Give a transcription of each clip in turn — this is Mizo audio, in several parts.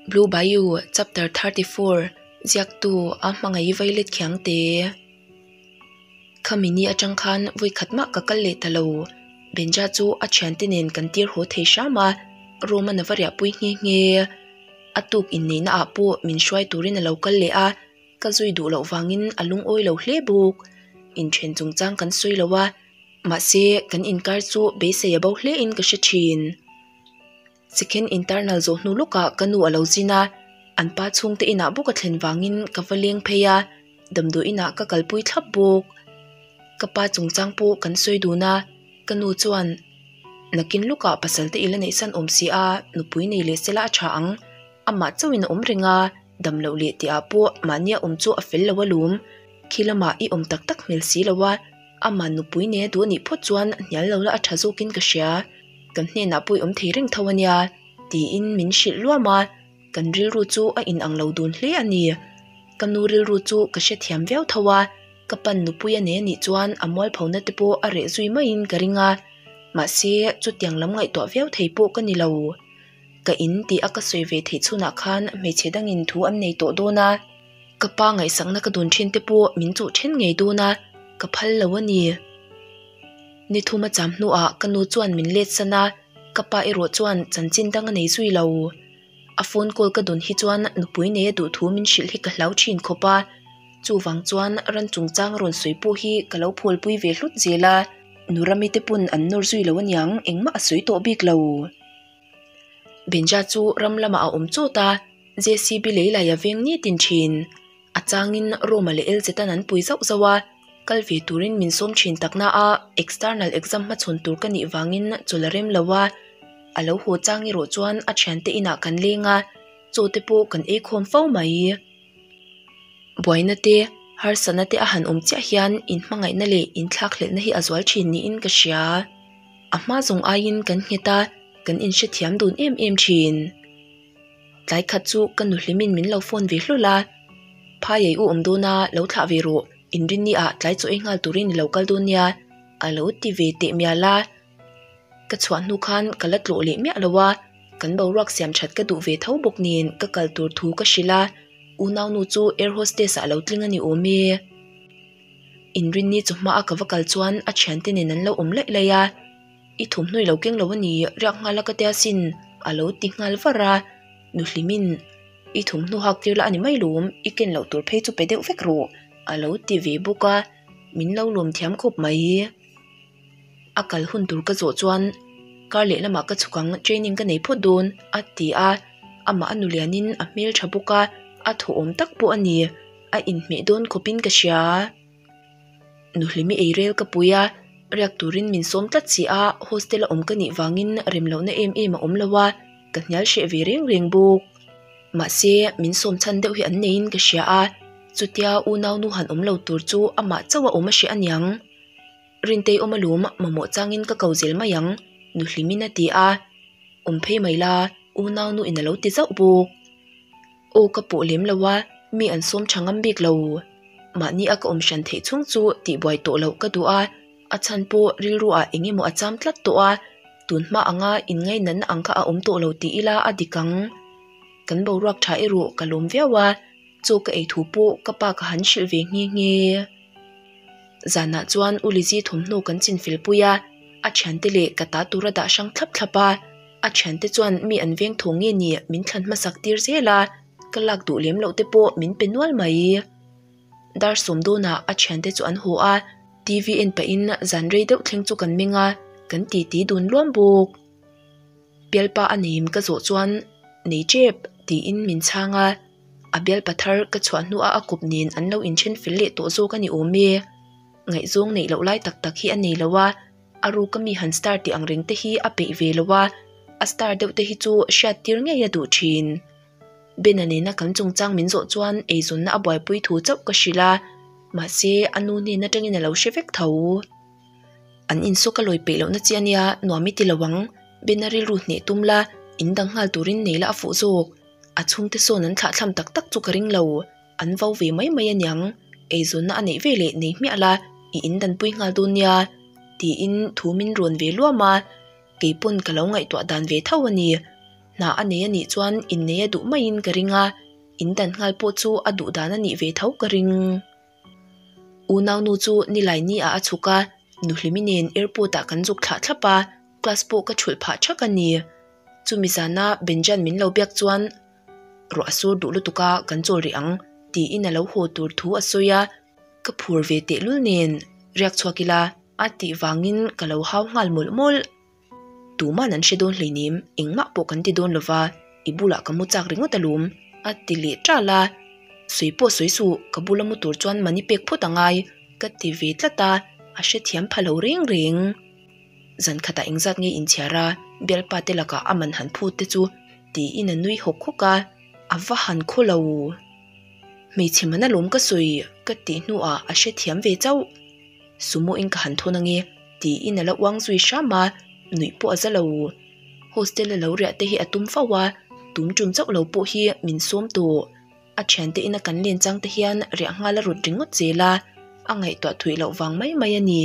Blue Bayou chapter thirty four ziaktu a hmangaih violet khiang te khami ni atang khan vawi khat mah ka kal leh ta lo Benja chu a thiante nen kan tir haw thei hram a Roma na va riah pui nghe nghe a tuk inneihna ah pawh min hruai turin a lo kal leh a. Ka zui duh loh vangin a lungawi lo hle bawk. Inthen chung chang kan sawi lo a, mahse kan inkar chu beisei a bo hlein ka hre thin. Sikhen intarnal zawh hnu lawkah ka nu a lo zin a, an pa chhungte inah bawk a thlen vangin ka va leng phei a, damdawi inah ka kalpui thlap bawk. Ka pa chung chang pawh kan sawi dun a, ka nu chuan, Nakin lukah pasalte ila neihsan awm si a, nupui nei leh sela a tha ang, amah chauhin a awm reng a. damloh leh tih ah pawh mahnia awm chu a fel lo a lum khi lamah i awm tak tak hmel si lo a ama nupui nena duh anih phawt chuan a hnial lo la a tha zawk in ka hria kan hnen ah pawh i awm thei reng tho ania tiin min hrilh luam a kan rilru chu a in ang lo dun hle a ni ka nu rilru chu ka hre thiam viau tho a ka pan nupui a nei anih chuan a mual pho na te pawh a reh zui mai in ka ring a mahse chutiang lam ngaihtuah viau thei pawh ka ni lo. ka in tih a ka sawi ve theih chhunah khan hmeichhe dangin thu an nei tawh dawn a, ka pa ngaihsakna ka dun thin te pawh min chuh thin ngei dawn a, ka phal lo a ni. Ni thum a cham hnuah ka nu chuan min let san a, ka pa erawh chuan chanchin dang a nei zui lo. A phone call ka dun hi chuan nupui nei a duh thu min hrilh hi ka hlau thin khawp a, chuvang chuan ran chungchang rawn sawi pawh hi ka lo phawlpui ve hlut zel a, nu Rami te pawn an nawr zui lo a niang, engmah a sawi tawh bik lo. Binja chu ram lamah a awm chawt a, JCB lei lai a veng nitin thin. A changin Roma leh Elze tan an pui zauh zauh a, kal ve turin min sawm thin tak na a, external exam hma chhawn tur ka nih vangin chawlh a rem lo a, a lo haw chang erawh chuan a thiante inah kan leng a, chaw te pawh kan ei khawm fo mai. Buaina te, harsatna te a han awm chiah hian inhmangaihna leh inthlakhlelhna hi a zual thin niin ka hria. a hma zawng aiin kan nghet a kan in hrethiam dun em em thin tlai khat chu ka nu hlimin min lo phone ve hlawl a phai ei u awm dawna lo thlah ve rawh in ri ni ah tlai chu ei nghal turin i lo kal dawn nia a lo ti ve teh mial a ka chhuah hnu khan ka la tlawh leh miah lo a kan boruak siam that ka duh ve tho bawk nen ka kal tur thu ka hrilh a u nau nu chu air hostess ah lo tling a ni awm e. inrinni chu hma a ka va kal chuan a thiante nen an lo awm laih laih a i thawmhnaw ilo keng lo a ni riak nghal a ka tia sin a lo ti nghal var a nuhlimin i thawmhnaw hak tir la a ni mai lawm i ken loh tur phei chu pe deuh vek rawh a lo ti ve bawk a min lo lawm thiam khawp mai. a kal hun tur ka zawh chuan kar leh lamah ka chhukang training ka nei phawt dawn a ti a amah a nulianin a hmel tha bawk a a thawhawm tak pawh a ni a inhmeh dawn khawpin ka hria a nuhlim i eirel ka pui a riak turin min sawm tlat si a hostel a awm ka nih vangin rem lohna em em a awm lo a ka hnial hreh ve reng reng bawk mahse min sawm chhan deuh hi an neiin ka hria a chutia unau nu han awm lo tur chu amah chauh a awm a hria aniang. Rintei awm alum, mamawh changin ka ko zel mai ang, Nuhlimin a ti a. Awm phei mai la, u Naunu in a lo ti zauh bawk. Aw ka pawh lem lo a, mi an sawm tha ngam bik lo. Mahni a ka awm hran theih chhung chu tih buai tawh loh ka duh a, a chhan pawh rilruah eng emaw a cham tlat tawh a, tun hma anga in ngainatna ang kha a awm tawh lo ti ila a dik ang. Kan boruak tha erawh ka lawm viau a, chaw ka ei thu pawh ka pa ka han hrilh ve nghe nghe. zanah chuan u Lizi thawmhnaw kan chinfel pui a, a thiante leh ka ta tura dah hrang thlap thlap a, a thiante chuan mi an veng tho nge ni min thlan hmasak tir zel a, ka lak duh lem loh te pawh min pe nual mai. Dar sawmdawnah a thiante chu an haw a, TV en pah in zan rei deuh thleng chu kan meng a, kan ti ti dun luam bawk. Bialpa a neim ka zawh chuan nei tep tiin min chhang a, a bial pa thar ka chhuah hnu a a kup nen an lo in ṭhenfel leh tawh zawk a ni awm e, ngaihzawng neih loh lai tak tak hi a nei lo a, a ru ka mi han star tih ang reng te hi a peih ve lo a, a star deuh te hi chu hriat tir ngei a duh ṭhin. Ben-a nena kan chungchang min zawh chuan eizawnna a buaipui thu chauh ka hrilh a, mahse a nu nen aṭangin a lo hre vek tho. An in saw ka lawi peih lohna chi a nia, nuam i ti lo ang, Ben-a rilru hneh tum la, in dang nghal turin nei la a fuh zawk. a chhung te sawn an thlah thlam tak tak chu ka ring lo an vo ve mai mai a niang eizawnna a neih ve leh nei hmiah la i in dan pui nghal dawn nia tiin thu min rawn ve luam a keipawn ka lo ngaihtuah dan ve tho a ni hna a nei a nih chuan innei a duh maiin ka ring a in dan nghal pawh chu a duh dan a nih ve tho ka ring. U Naunu chu ni lai ni ah a chhuk a, Nuhlimi nen airport ah kan zuk thlah thlap a, class pawh ka chhulh phah thak a ni. Chumi zan a Benjan min lo biak chuan, Rawh a sur duh lutuk a, kan chawl rih ang, tiin a lo haw tur thu a sawi a, ka phur ve tehlul nen riak chhuak ila, a tih vangin ka lo hau nghal mawlh mawlh. Tuman an hre dawn hlei nim, engmah pawh kan ti dawn lo va, i bulah ka mu chak ringawt a lum, a ti leh tal a. Sawi pawh sawi suh, ka bula mu tur chuan mani pek phawt a ngai, ka ti ve tlat a, a hrethiam pha lo reng reng. Zan khatah engzat nge in chhiar a, Bialpa te lakah a man han phut te chu? tiin a nui hawk hawk a, a va han khaw lo. Hmeichhe man a lawm ka sawi, ka tih hnuah a hrethiam ve chauh. Sumoin ka han thawn ang e, tiin a la uang zui hram a, nuih pawh a za lo. Hostel a lo riah te hi a tum fauh a, tum tum chauh lo pawh hi min sawm tawh. A thian tein a kan len chang te hian riah nghal a rawt ringawt zel a, a ngaihtuah thuih loh vang mai mai a ni.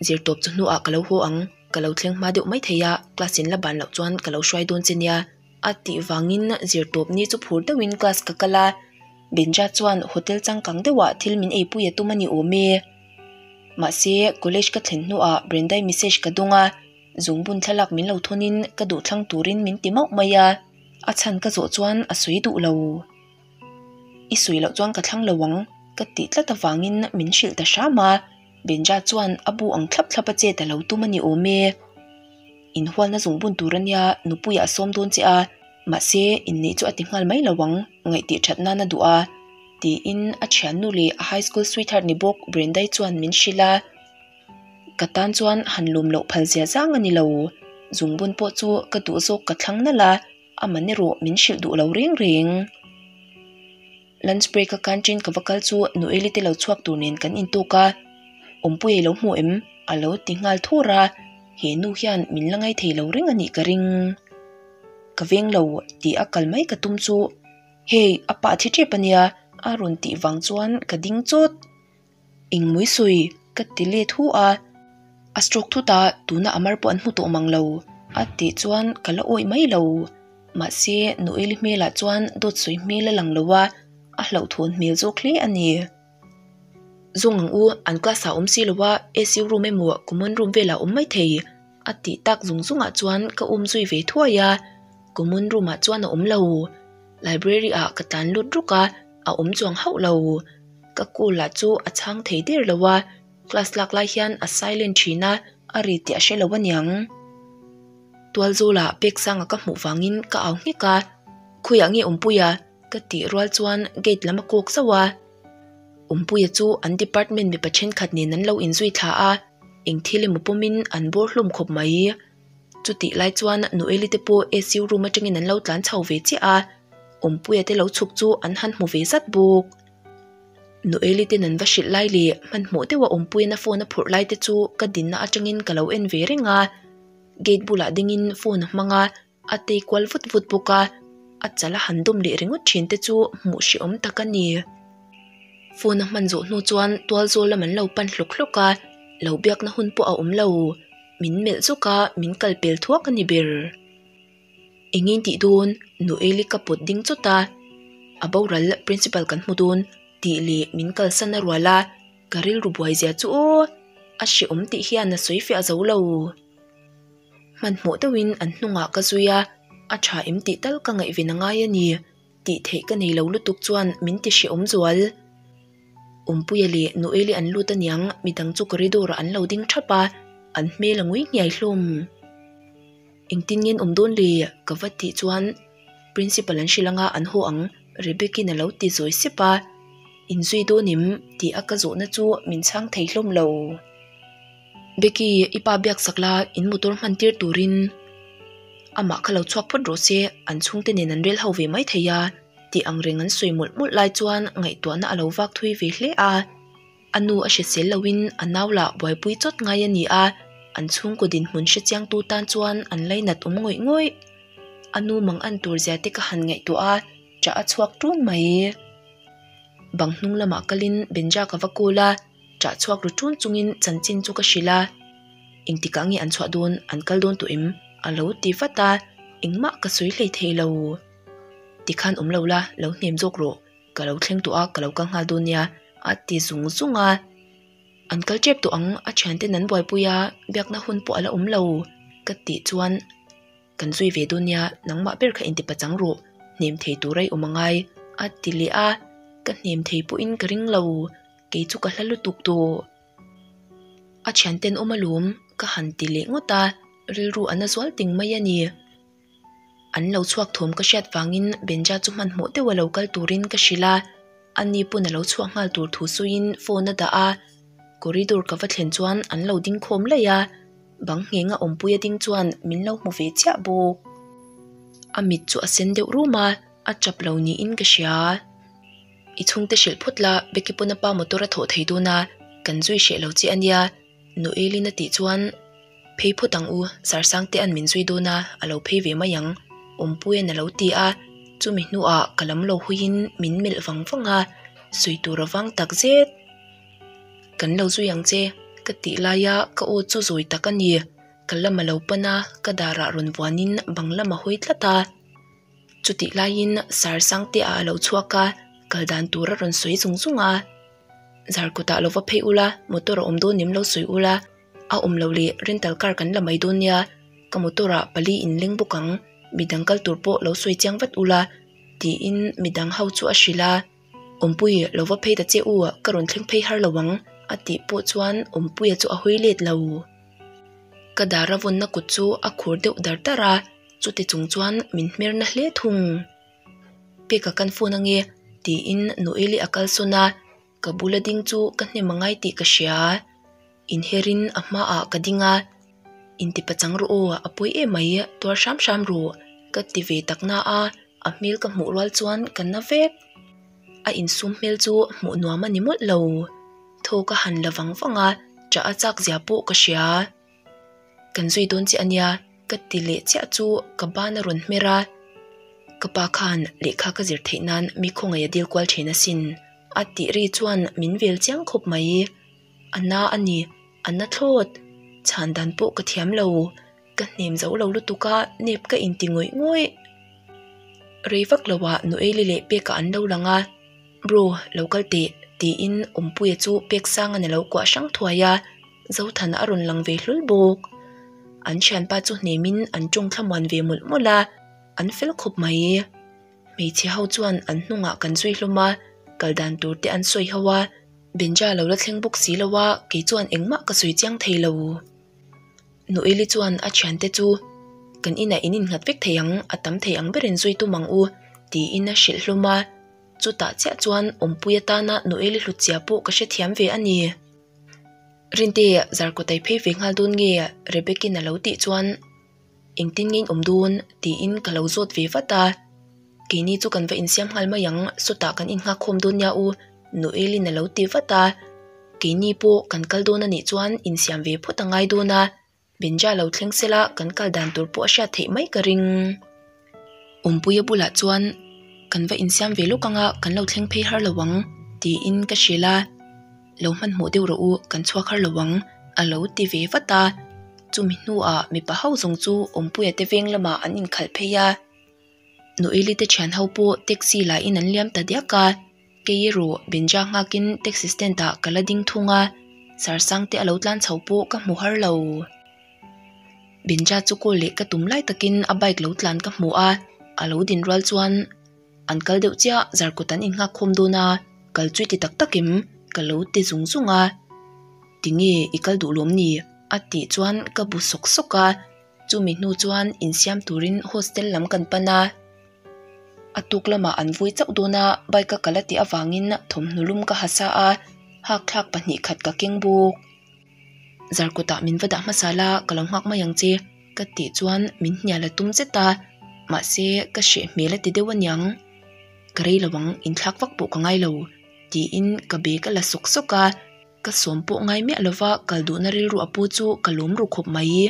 Zirtawp chu hnuah ka lo haw ang, ka lo thleng hma deuh mai thei a, class in la ban loh chuan ka lo hruai dawn che nia. A tih vangin zirtawpni chu phur deuhin class ka kal a, Benja chuan hotel changkang deuhah thil min eipui a tum a ni awm e. Mahse, college ka thlen hnuah Brenda-i message ka dawng a, zungbun thlalak min lo thawnin ka duhthlang turin min ti mauh mai a, a chhan ka zawh chuan a sawi duh lo. i sawi loh chuan ka thlang lo ang ka tih tlat avangin min hrilh ta hram a, Benja chuan a bu ang thlap thlap a chet a lo tum a ni awm e, in hualna zawng bun tur ania Nupuia a sawm dawn che a, mahse inneih chu a ti nghal mai lo ang ngaih tih that nan a duh a tiin a thiannu leh a high school sweetheart ni bawk Brenda-i chuan min hrilh a, ka tan chuan han lawm loh phal zia zang a ni lo, zungbun pawh chu ka duh zawk ka thlang nalh a. a mani rawh min hrilh duh lo reng reng lunch break a kan ṭin ka va kal chu noeli te lo chhuak tur nen kan in talk a awmpuia i lo hmu em a lo ti nghal thur a he nu hian min la ngai thei lo reng a nih ka ring ka veng lo tih a kal mai ka tum chu hei a pah che ṭep a nia a rawn tih vang chuan ka ding chawt. Engmawii sawi ka ti let hu a, a stroke thut a, tuna a mar pawh an hmu tawh mang lo a tih chuan ka la awih mai lo. Mahse Noeli hmelah chuan dawt sawi hmel a lang lo a, a hlauhthawn hmel zawk hle a ni. Zawng ang u, an class ah awm si lo a, SU room emaw common room velah awm mai thei a tih tak zung zungah chuan ka um zui ve thuai a, common room ah chuan a awm lo. library ah ka tlan lut rawk a a awm chuang hauh lo ka kul ah chu a chhang thei der lo a class lak lai hian a silent thin a a ri tih a hre lo aniang tualzawl ah bag sang a ka hmuh vang in ka au nghek a khawi ah nge awmpui a ka tih rual chuan gate lam a kawk zauh a awmpuia chu an department mipa thenkhat nen an lo in zui thla a eng thil emaw pawm in an bawr hlawm khawp mai. Chutih lai chuan a nu Eli te pawh ICU room atangin an lo tlan chho ve chiah a, Awmpuia te lo chhuk chu an han hmu ve zat bawk. Nu Eli ten an va hrilh lai leh hmanhmawh deuha Awmpuiana phone a phurh lai te chu ka dinna atangin ka lo en ve reng a, gate bulah dingin phone a hmang a, a tei kual vut vut bawk a, a chal a han dawm leh ringawt thin te chu hmuh hrehawm tak a ni. Phone a hman zawh hnu chuan tual zawl lam an lo pan hlawk hlawk a, lo biakna hun pawh a awm lo. min melh zawk a min kal pel thuak a ni ber eng in tih dawn nu eli ka pawt ding chawt a a boral principal kan hmu dawn tih leh min kalsan a rual a ka rilru buai zia chu aw a hreawm tih hian a sawi fiah zo lo hmanhmawh deuhin an hnungah ka zui a a tha em tih tal ka ngaih ve na ngai a ni. tih theih ka nei lo lutuk chuan min ti hriaawm zual. Awmpuia leh Nu Eili an lut aniang, mi dang chu corridor-ah an lo ding thap a, an hmel a ngui ngiai hlawm. Engtin nge an awm dawn le? ka va tih chuan Principal an hrilh anga an haw ang, Rebeck-in a lo ti zawi sep a. Inzui dawn em? tih a ka zawhna chu min chhang thei hlawm lo. Becky, i pa biak sak la in motor hman tir turin amah kha lo chhuak phawt rawh se, an chhungte nen an rel ho ve mai thei a, tih ang reng an sawi mawlh mawlh lai chuan ngaihtuahna a lo vak thui ve hle a, a nu a hresel loin a nau lah buaipui chawt ngai a ni a, an chhungkaw dinhmun hre chiangtu tan chuan an lei nat awm ngawih ngawih. A nu mang an tur zia te ka han ngaihtuah a, tah a chhuak tun mai. Bang hnung lamah kalin Benja ka va call a. chah chhuak ru chun chungin chanchin chu ka hrilh a intikah nge an chhuah dawn an kal dawn tawh em a lo ti vat a engmah ka sawi hlei thei lo ti khan awm lo la lo hnem zawk rawh ka lo thleng tawh a ka lo kal nghal dawn nia a ti zung zung a an kal tep tawh ang a thian ten an buaipui a biakna hun pawh a la awm lo ka tih chuan kan zui ve dawn nia nangmah ber kha intipa chang rawh hnem thei tura i awm a ngai a ti leh a ka hnem thei pawhin ka ring lo. kei chu ka hla lutuk tawh a thian ten awm alawm ka han ti leh ngawt a rilru a na zual ting mai a ni an lo chhuak thawm ka hriat vangin Banja chu hmanhmawh deuh a lo kal turin ka hrilh a a ni pawn a lo chhuak nghal tur thu sawiin phone a dah a corridor ka va thlen chuan an lo ding khawm laih a bang ngheng a awmpuia ding chuan min lo hmu ve chiah bawk a mit chu a sen deuh rum a a tap lo niin ka hria. I chhungte hrilh phawt la, Becky pawn a pa motor a thawh thei dun a, kan zui hreh lo che a nia, Noelin a tih chuan phei phawt ang u, Sarsangte an min zui dun a, a lo phei ve mai ang, Awmpuia'n a lo ti a, chumi hnuah ka lam lo huiin min melh vang vang a, sawi tur avang tak zet kan lo zui ang che ka tih laia ka aw chu zawi tak a ni, ka lam a lo pan a, ka darah rawn vuanin bang lam a hawi tlat a. Chutih laiin sar sang te ah a lo chhuak a, kal dan tur a rawn sawi zung zung a, zar kutah lo va phei ula, motor a awm dawn nin lo sawi ula, a awm lo leh rental car kan la mai dawn nia, ka motor ah pali in leng bawk ang, midang kal tur pawh lo sawi chiang vat ula, tiin midang ho chu a hrilh a. Awmpui, lo va phei ta che u, ka rawn thleng phei har lo ang, a tih pawh chuan Awmpuia chu a hawi let lo. Ka dar a vawnna kut chu a khur deuh dar dar a, chute chung chuan min hmer na hle thung. Peka kan phone ange, tiin Noeli a kalsawn a, ka bula ding chu ka hnem a ngai tih ka hria. Inherin a hma ah ka ding a, inti pachang rawh aw, a pawi em mai, tuar hram hram rawh, ka ti ve tak na a, a hmel ka hmuh rual chuan ka na vek. A insum hmel chu hmuh nuam a ni mawlh lo, tho ka han la vang vang a, tah a chak zia pawh ka hria. Kan zui dawn che a nia, ka ti leh chiah chu ka ban a rawn hmer a, ka pa khan lehkha ka zir theih nan mi khawngaih a dil kual thin asin, a tih ri chuan min vel chiang khawp mai. a na a ni a na thlawt chhan dan pawh ka thiam lo ka hnem zo lo lutuk a nep ka in ti ngawih ngawih rei vak lo ah nuaili leh pek a an lo lang a bro lo kal teh tiin awmpuia chu pek sang in a lo kuah hrang thuai a zothan a rawn lang ve hlul bawk an thianpa chu hnem in an tawngthla muan ve mawlh mawlh a an fel khawp mai. Hmeichhe ho chuan an hnungah kan zui hlawm a, kal dan tur te an sawi ho a, Benja lo la thleng bawk si lo a, kei chuan engmah ka sawi chiang thei lo. Nu Eli chuan a thiante chu kan inah in inghat vek thei ang, a tam thei ang berin zui tum ang u tiin a hrilh hlawm a, chutah chiah chuan awmpuia tana Nu Eli hluchhia pawh ka hrethiam ve a ni. Rinte, zarkaw tai phei ve nghal dawn nge Rebecca-in a lo tih chuan engtin nge in awm dawn tiin ka lo zawt ve vat a, keini chu kan va insiam nghal mai ang, sawtah kan inngakkhawm dawn nia u, Noelin a lo ti vat a, keini pawh kan kal dawn a nih chuan insiam ve phawt a ngai dawn a, Benja lo thleng sela kan kal dan tur pawh a hriat theih mai ka ring. Awmpui a bulah chuan kan va insiam ve lawk anga kan lo thleng phei har lo ang tiin ka hrial a, lo hmanhmawh deuh rawh u kan chhuak har lo ang a lo ti ve vat a. Chumi hnuah mipa ho zawng chu Awmpuia te veng lamah an inkhalh phei a, Noeli te thianho pawh taxi lahin an liam ta diak a. Kei erawh benjak nghakin taxi stand ah ka la ding thung a, Sarsang te a lo tlan chho pawh ka hmu har lo. Benja chu call leh ka tum lai takin a bike lo tlan ka hmu a, a lo din rual chuan an kal deuh chiah zar kut an inhak khawm dawn a, kal chu i ti tak tak em? Ka lo ti zung zung a, tinge i kal duh lawm ni? a tih chuan ka bu sawk sawk a, chumi hnu chuan insiam turin hostel lam kan pan a. a tuk lamah an vui chauh dawn a bike ka kalh a tih avangin thawmhnu lum ka ha sa a hakthlak pahnih khat ka keng bawk zar kawtah min va dah hmasa la ka lo nghak mai ang che ka tih chuan min hnial la tum zet a mahse ka hreh hmel a ti deuh a niang ka rei lo ang inthlak vak pawh ka ngai lo tiin ka bag a la sawk sawk a ka sawm pawh ngai miah lova kal duhna rilru a pu chu ka lawm ru khawp mai.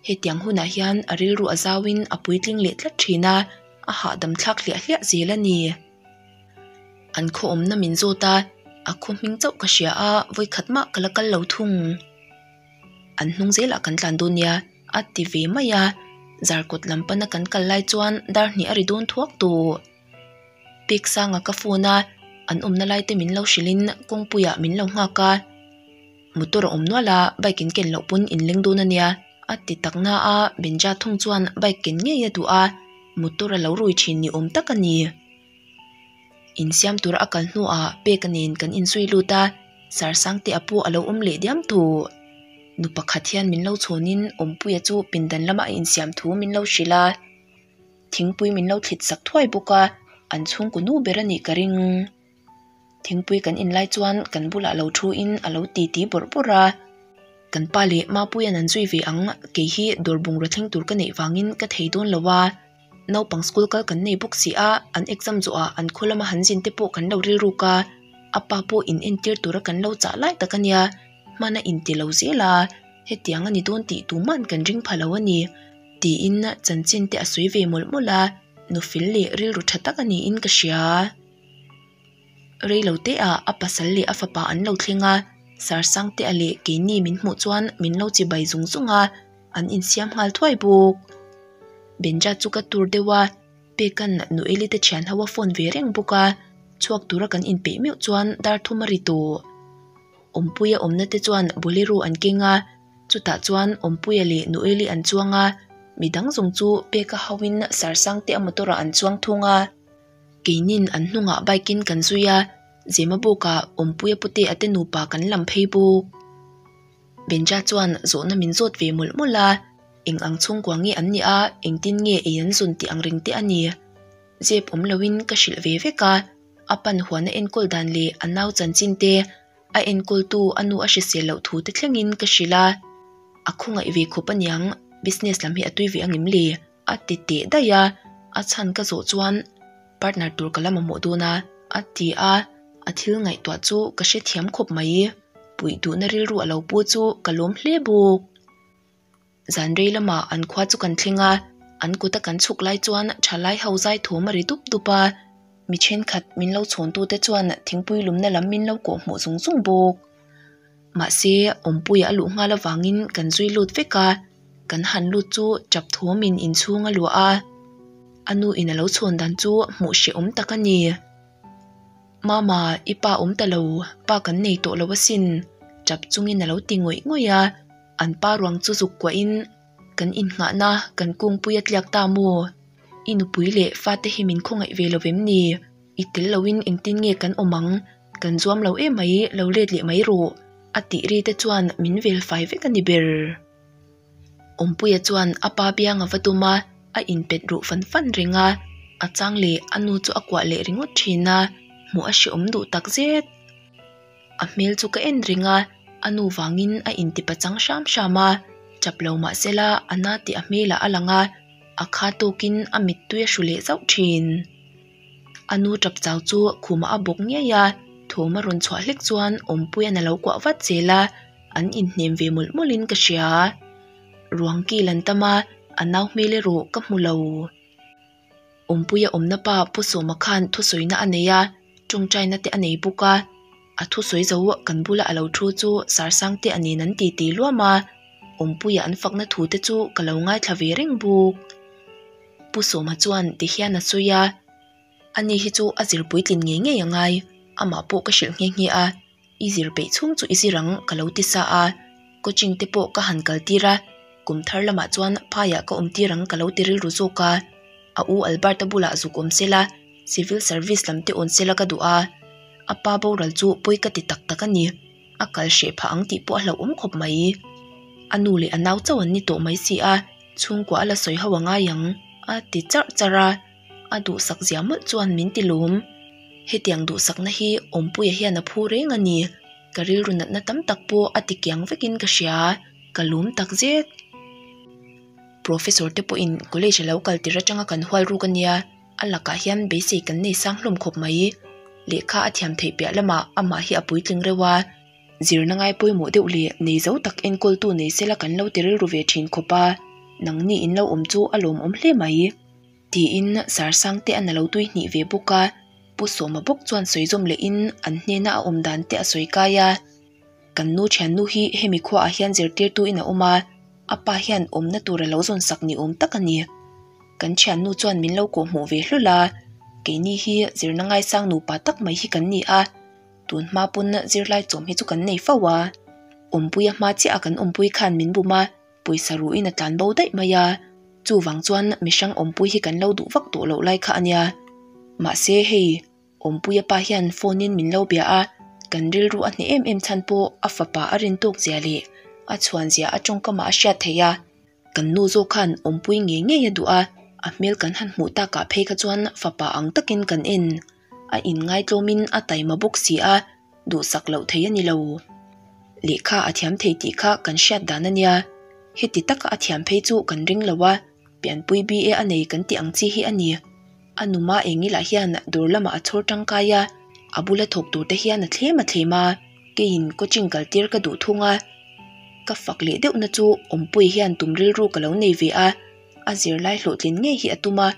Hetiang hunah hian a rilru a zauin a puitling leh tlat thin a, a hahdam thlak hliah hliah zel a ni. An khawawmna min zawt a, a khaw hming chauh ka hria a, vawikhat mah ka la kal lo thung. An hnung zelah kan tlan dawn nia, a ti ve mai a, zarkawt lam pana kan kal lai chuan darhnih a ri dawn thuak tawh. Piksanga ka phone a an awmna lai te min lo hrilh in kawngpui ah min lo nghak a motor a awm nual a bike in ken loh pawn in leng dawn a nia a ti tak na a Benja thung chuan bike ken ngei a duh a motor a lo rui thin ni awm tak a ni in siam tur a kal hnu ah pek a nen kan in zui lut a Sarsang te a pawh a lo awm leh diam thut nu pakhat hian min lo chhawng in awmpuia chu pindan lam ah a in siam thu min lo hrilh a. thingpui min lo thlit sak thuai bawk a an chhung kaw nu ber a nih ka ring thingpui kan in lai chuan kan bulah lo thu in a lo ti ti bawrh bawrh a kan pa leh ma puia'n an zui ve ang kei hi dawr bungraw thleng tur ka neih vangin ka thei dawn lo a naupang school kal kan nei bawk si a an exam zawh ah an khaw lama han zin te pawh kan lo rilruk a a pa pawh in entir tura kan lo chah lai tak a nia hmana in ti lo zel a hetiang a ni dawn tih tuman kan ring pha lo a ni. Tiin Chanchinte a sawi ve mawlh mawlh a, Nufil leh rilru tha tak a niin ka hria a, reilote ah a pasal leh a fapa an lo thleng a, Sarsangte a leh keini min hmuh chuan min lo chi bai zung zung a, an insiam nghal thuai bawk. Benja chu ka tur deuh a, Pekan Nu Elite thian ho a phone ve reng bawk a, chhuak tura kan inpeih meuh chuan dar thum a ri tawh. Awmpuia awmna te chuan Bolero an keng a. Chutah chuan Awmpuia leh Nueli an chuang a, mi dang zawng chu pek a hauhin Sarsangte a motor ah an chuang thung a. Keinin an hnungah bike in kan zui a, Zema bukah Awmpuia pute a te nupa kan lam phei bawk. Benja chuan zawhna min zawt ve mawlh mawlh a, eng ang chhungkua nge an nia, engtin nge ei an zawn tih ang reng te a ni. Zep awm loin ka hrilh ve vek a, a pan huana enkawl dan leh a nau chanchin te, A enkultu a nu a hrisel loh thu te thlengin ka hrilh a, a khawngaih ve khawp aniang, business lam hi a tui ve angem le? a ti teh daih a, a chhan ka zawh chuan partner tur ka lam amuh dawn a, a ti a, a thil ngaihtuah chu ka hrethiam khawp mai, puih duhna rilru a lo pu chu ka lawm hle bawk. Zanri lama an khua chu kan thleng a, an kuta kan chhuk lai chuan tha lai ho zai thum a ri dup dup a, mi thenkhat min lo chhawn tu te chuan thingpui lumna lam min lo kawh hmuh zung zung bawk. Mahse awmpui a luh nghal avangin kan zui lut vek a, kan han lut chu tap thum in in chhung a luah a, a nu in a lo chhawn dan chu hmuh hrehawm tak a ni. Mama, i pa awm ta lo, pa kan nei tawh lo asin, tap chungin a lo ti ngawih ngawih a. An pa ruang chu zuk kuah in, Kan innghahna kan kungpui a tliak ta maw? I nupui leh fate hi min khawngaih ve lo em ni? I tel lo in engtin nge kan awm ang? Kan zuam lo e mai, lo let leh mai rawh, a tih ri te chuan min vel fai vek a ni ber. Awmpuia chuan a pa biang a va tum a, a inpet ruh fan fan reng a, a chang leh a nu chu a kuah leh ringawt thin a, hmuh a hreawm duh tak zet. A hmel chu ka en ring a, a nu vangin a intipa chang hram hram a, chap lo mahsela a na tih a hmelah a lang a, a kha tawkin a mittui a hru leh zauh thin. A nu chap chau chu khumah a bawk ngiai a, thawm a rawn chhuah hlek chuan Awmpuian a lo kuah vat zel a, an inhnem ve mawlh mawlhin ka hria. Ruang kil an tam a, a nau hmel erawh ka hmu lo. Awmpuia awmna pa Pu Sawma khan thusawiina a nei a, tawngtaina te a nei bawk a, a thusawi zo kan bula a lo thu chu Sarsangte a nen an titi luam a, Awmpuia an fakna thu te chu ka lo ngaithla ve reng bawk. Pu Sawma chuan ti hian a sawi a, ani hi chu a zirpuitlin ngei ngei a ngai, amah pawh ka hrilh nghe nghe a. I zir peih chhung chu i zir ang ka lo ti sa a coaching te pawh ka han kal tir a kum thar lamah chuan phaiah ka awm tir ang ka lo ti rilru zawk a a u albert a bulah zuk awm sela civil service lam te awn sela ka duh a a pa boral chu pawi ka ti tak tak a ni a kal hreh phah ang tih pawh a hlauhawm khawp mai a nu leh a nau chauh an ni tawh mai si a chhungkua a la sawi ho a ngai ang a ti char char a. a duhsak zia mawlh chuan min ti lawm, hetiang duhsakna hi Awmpuia hian a phu reng a ni. Ka rilru natna tam tak pawh a ti kiang vekin ka hria a, ka lum tak zet. Professor te pawhin college a lo kal tir atanga kan hual ruk a nia, a lakah hian beisei kan nei sang hlawm khawp mai. Lehkha a thiam theih piah lamah amah hi a puitling reuh a, zirna ngai pawimawh deuh leh nei zo tak enkawl tu nei sela kan lo ti rilru ve thin khawp a, nangni in lo awm chu a lawmawm hle mai. Tiin Sarsangte a na lo tui hnih ve bawk a, Pu Sawma bawk chuan sawizawm leh in an hnena a awm dan te a sawi kai a, Kan nu thiannu hi hemi khuaah hian zirtirtu in a awm a, a pa hian awmna tur a lo zawn sak ni awm tak a ni. Kan thiannu chuan min lo kawhhmuh ve hlul a, keini hi zirna ngaisang nupa tak mai hi kan ni a, tun hma pawn zirlai chawm hi chu kan nei fo a, Awmpui a hma chiah a kan awmpui khan min bum a, pawisa ruhin a tlan bo daih mai a, chuvang chuan mi hrang awmpui hi kan lo duh vak tawh loh lai kha a nia. Mahse hei awmpuia pa hian phone in min lo bia a, kan rilru a hneh em em chhan pawh a fapa a rin tawk zia leh a chhuan zia a tawngkam ah a hriat theih a, kan nu zawk khan awmpui ngei ngei a duh a, a hmel kan han hmuh tak ah phei kha chuan fapa ang takin kan en. A inngaitlawmin a taima bawk si a, duhsak loh thei a ni lo. Lehkha a thiam thei tih kha kan hriat dan a nia. Heti taka a thiam phei chu kan ring lo a, pianpui BA a nei kan tih ang chi hi a ni. A numa eng ilah hian dawr lamah a chhawr tangkai a, a bula thawk tur te hian a thlem a thlem a. Keiin coaching kal tir ka duh thung a, ka fak leh deuhna chu Awmpuii hian tum rilru ka lo nei ve a, a zirlai hlawhtlin ngei hi a tum a.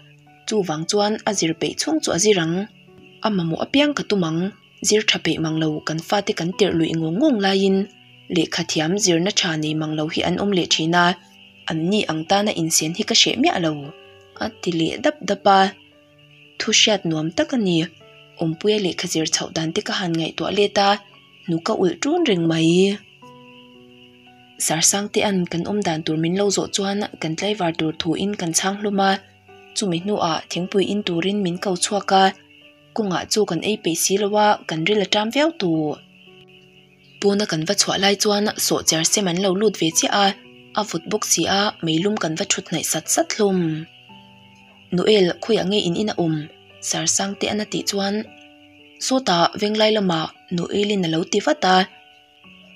Chuvang chuan a zir peih chhung chu a zir ang, A mamawh apiang ka tum ang, zir tha peih mang lo, kan fate kan tirh luih ngawng ngawng laiin lehkha thiam zirna tha nei mang lo hi an awm leh thin a, anni ang tana insian hi ka hreh miah lo, a ti leh dap dap a. Thu hriat nuam tak a ni. Awmpuia lehkha zir chhoh dan te ka han ngaihtuah let a, hnu ka ulh tun reng mai. Sarsangte an kan awm dan tur min lo zawh chuan kan tlaivar tur thuin kan chhang hlawm a. Chumi hnuah thingpui in turin min ko chhuak a, kawngah chu kan ei peih si lo a, kan ril a ṭam viau tu. Puna kan va chhuah lai chuan sawhchiar sem an lo lut ve chiah a, a vut bawk si a, meilum kan va ṭhut hnaih sat sat hlawm. Noel khawiah nge in in a awm? Sarsangte an a tih chuan sawtah venglai lamah Noel in a lo ti vat a.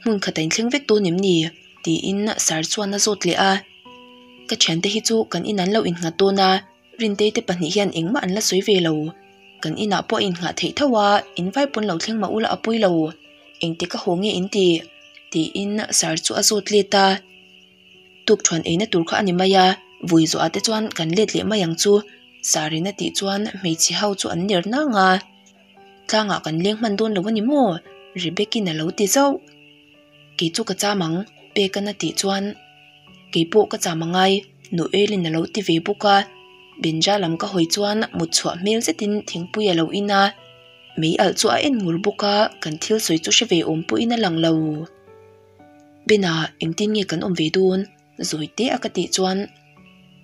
hmun kha ta inthleng vek dawn em ni? tiin sir chuan a zawt leh a, ka thiante hi chu kan inah an lo innghat dawn a, Rintei te pahnih hian engmah an la sawi ve lo, kan inah pawh a innghah theih tho a, in vai pawn lo thleng mah ula apawi lo, engti ka haw nge in ti? tiin sir chu a zawt let a, tukṭhuan eina tur kha a ni mai a, vui zawh ah te chuan kan let leh mai ang chu, sir in a tih chuan hmeichhe ho chu an ner nang a. Tlanga kan leng hman dawn lo a ni maw? Rebecca-in a lo ti zauh. Kei chu ka cham ang, Peck-an a tih chuan. Kei pawh ka cham a ngai, Noelle-in a lo ti ve bawk a. Benja lam ka hawi chuan mut chhuah hmel zetin thingpui a lo in a, mei alh chu a en ngur bawk a, kan thil sawi chu hre ve awm pawhin a lang lo. Ben-a, engtin nge kan awm ve dawn? zawi te a ka tih chuan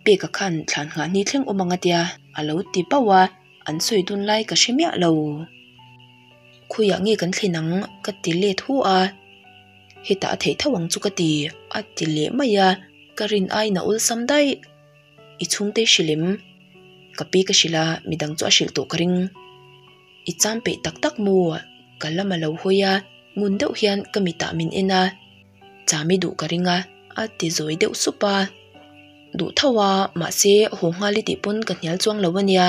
pek a khan thlan nghah ni thleng awm ang a tia a lo ti bauh a an sawi dun lai ka hre miah lo khawi ah nge kan thlen ang ka ti let hu a hetah a theih tho ang chu ka ti a ti leh mai a ka rin ai nâ ul sam daih i chhungte hri lem ka pi ka hri la mi dang chu a hrilh tawh ka ring i cham peih tak tak maw ka lam a lo hawi a ngun deuh hian ka mitah min en a. Chami duh ka ring a, a ti zawi deuh sup a. Duh tho a, mahse haw nghal i tih pawn ka hnial chuang lo a nia,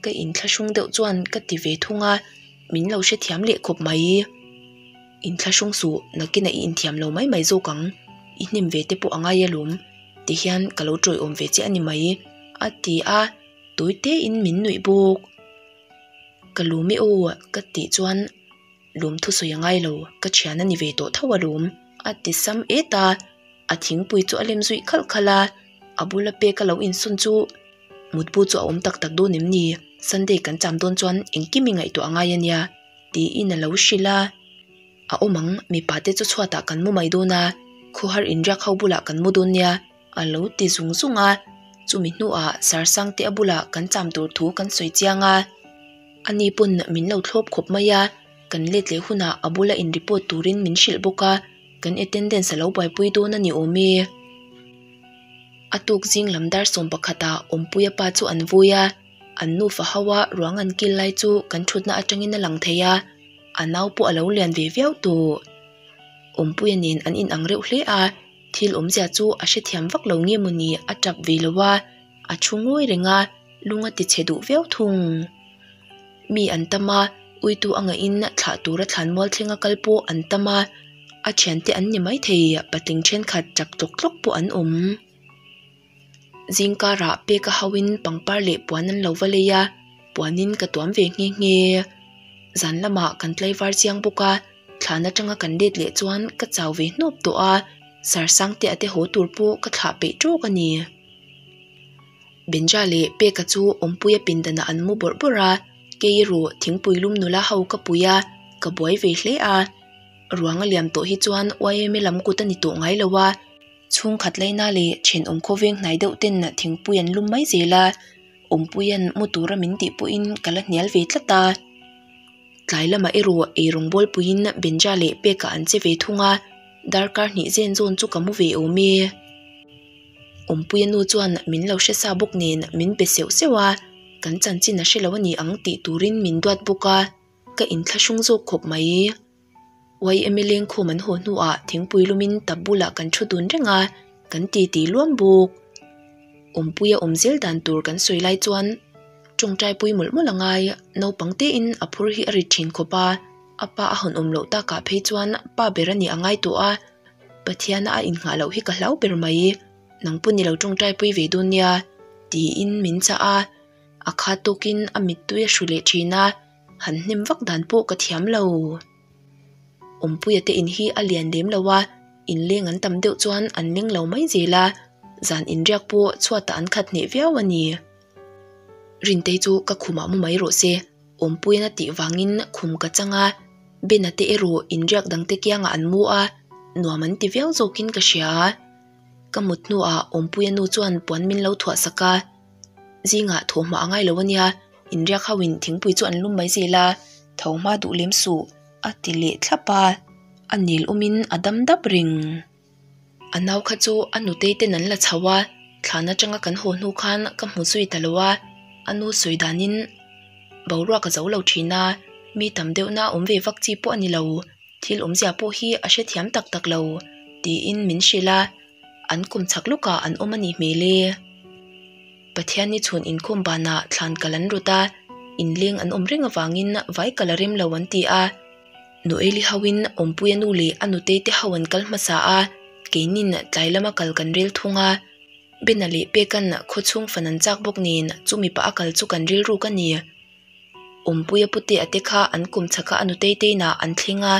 ka inthlahrung deuh chuan ka ti ve thung a, min lo hrethiam leh khawp mai. Inthlahrung suh, nakina i inthiam lo mai mai zawk ang, i hnim ve te pawh a ngai alawm ti hian ka lo tawihawm ve chiah a ni mai, a ti a, tawite in min nuih bawk. Ka luh meh aw ka tih chuan. lum thusawi a ngailo ka thian a ni ve tawh tho alawm a ti sam et a a thingpui chu a lem zui khalh khalh a a bula pek a lo insawn chu mutbu chu a awm tak tak dawn em ni sunday kan cham dawn chuan engkim i ngaihtuah a ngai a nia tiin a lo hrilh a a awm ang mipa te chu chhuatah kan mu mai dawn a khawhar inriak ho bulah kan mu dawn nia. a lo ti zung zung a chumi hnuah sarsang te a bulah kan cham tur thu kan sawi chiang a ani pawn min lo thlawp khawp mai a kan let leh hunah a bula in report turin min hrilh bawk a kan attendance a lo buaipui dawn a ni awm e a tuk zing lam dar sawm pakhatah awmpuia pa chu an vui a an nu fa hoa ruang an kil lai chu kan thutna atangin a lang thei a a nau pawh a lo lian ve viau tawh awmpuia nen an inang reuh hle a. thil awm zia chu a hrethiam vak lo nge mawni a tap ve lo va a thu ngawih reng a lung a ti chhe duh viau thung mi an tam a uitu a ngah in thlah tur a thlan mual thleng a kal pawh an tam a a thiante an ni maithei patling thenkhat tap tawk tawk pawh an awm. zing karah pek a hauh in pangpar leh puan an lo va lei a puan in ka tuam ve nghe nghe a zan lamah kan tlaivar chiang bawk a thlan atanga kan let leh chuan ka chau ve hnawp tawh a sarsang te ate haw tur pawh ka thlah peih trawk a ni Banja leh pek a chu awmpui a pindan ah an mu bawrh bawrh a kei erawh thingpui lum nula ho ka pui a ka buai ve hle a ruang a liam tawh hi chuan ym lam kut a ni tawh ngai lo a. chhungkhat laina leh thin awm khaw veng hnai deuh ten thingpui an lum mai zel a awmpui an mu tura min tih pawhin ka la hnial ve tlat a tlai lamah erawh erawh bual puiin benja leh pek ah an che ve thung a darkar hnih zen zawn chu ka mu ve awm e awmpui a nu chuan min lo hresa bawk nen min pe seuh seuh a kan chanchin a hrelo a ni ang tih turin min duat bawk a ka in thla hrawng zawk khawp mai. YMLA inkhum an haw hnuah thingpui lumin tap bulah kan thu dun reng a, kan titi luam bawk. Awmpui a awm zel dan tur kan sawi lai chuan tawngtaipui mawlh mawlh a ngai a, naupang tein a phur hi a ri thin khawp a, a pa a hawnawm loh takah phei chuan pa ber a nih a ngai tawh a, Pathiana a inghah loh hi ka hlau ber mai i, nang pawh nilo tawngtaipui ve dawn nia tiin min chah a, a khat tawkin a mittui a hru leh thin a. Han hnem vak dan pawh ka thiam lo. Awmpuia te in hi a lian lem lo a, in leng an tam deuh chuan an meng lo mai zel a, zan in riak pawh chhuatah an khat hneh viau a ni. Rintei chu ka khumah mu mai rawh se, Awmpuian a tih vangin khum ka chang a, Bena te erawh in riak dang te kiangah an mu a, nuam an ti viau zawkin ka hria a. Ka mut hnuah Awmpuia nu chuan puan min lo thuahsak a. zingah thaw hmah a ngailo a nia inriak hoin thingpui chu an lum mai zel a tho hma duh lem suh a ti leh thlap a a nil awm in a dam dap reng a nau kha chu a nu tei ten an la chho a thlan atanga kan haw hnu khan ka hmu zui ta lo a a nu sawi dan in boruak a zo lo thin a mi tam deuh na awm ve vak chi pawh a ni lo thil awmzia pawh hi a hrethiam tak tak lo tiin min hrilh a. an kum chak lawkah an awm a nih hmel e. Pathian nichhun inkhawm banah thlan kal an rawt a, inleng an awm reng avangin vai kal a rem lo an ti a. Nu Eli hoin Awmpui a nu leh a nu Teite ho an kal hmasa a, keinin tlai lama kal kan rel thung a. Bena leh Pekan khaw chhung fan an chak bawk nen chu mipa a kal chu kan rilru ka ni. Awmpuia pute ate kha an kum chha kha a nu tei teiin ah an thleng a,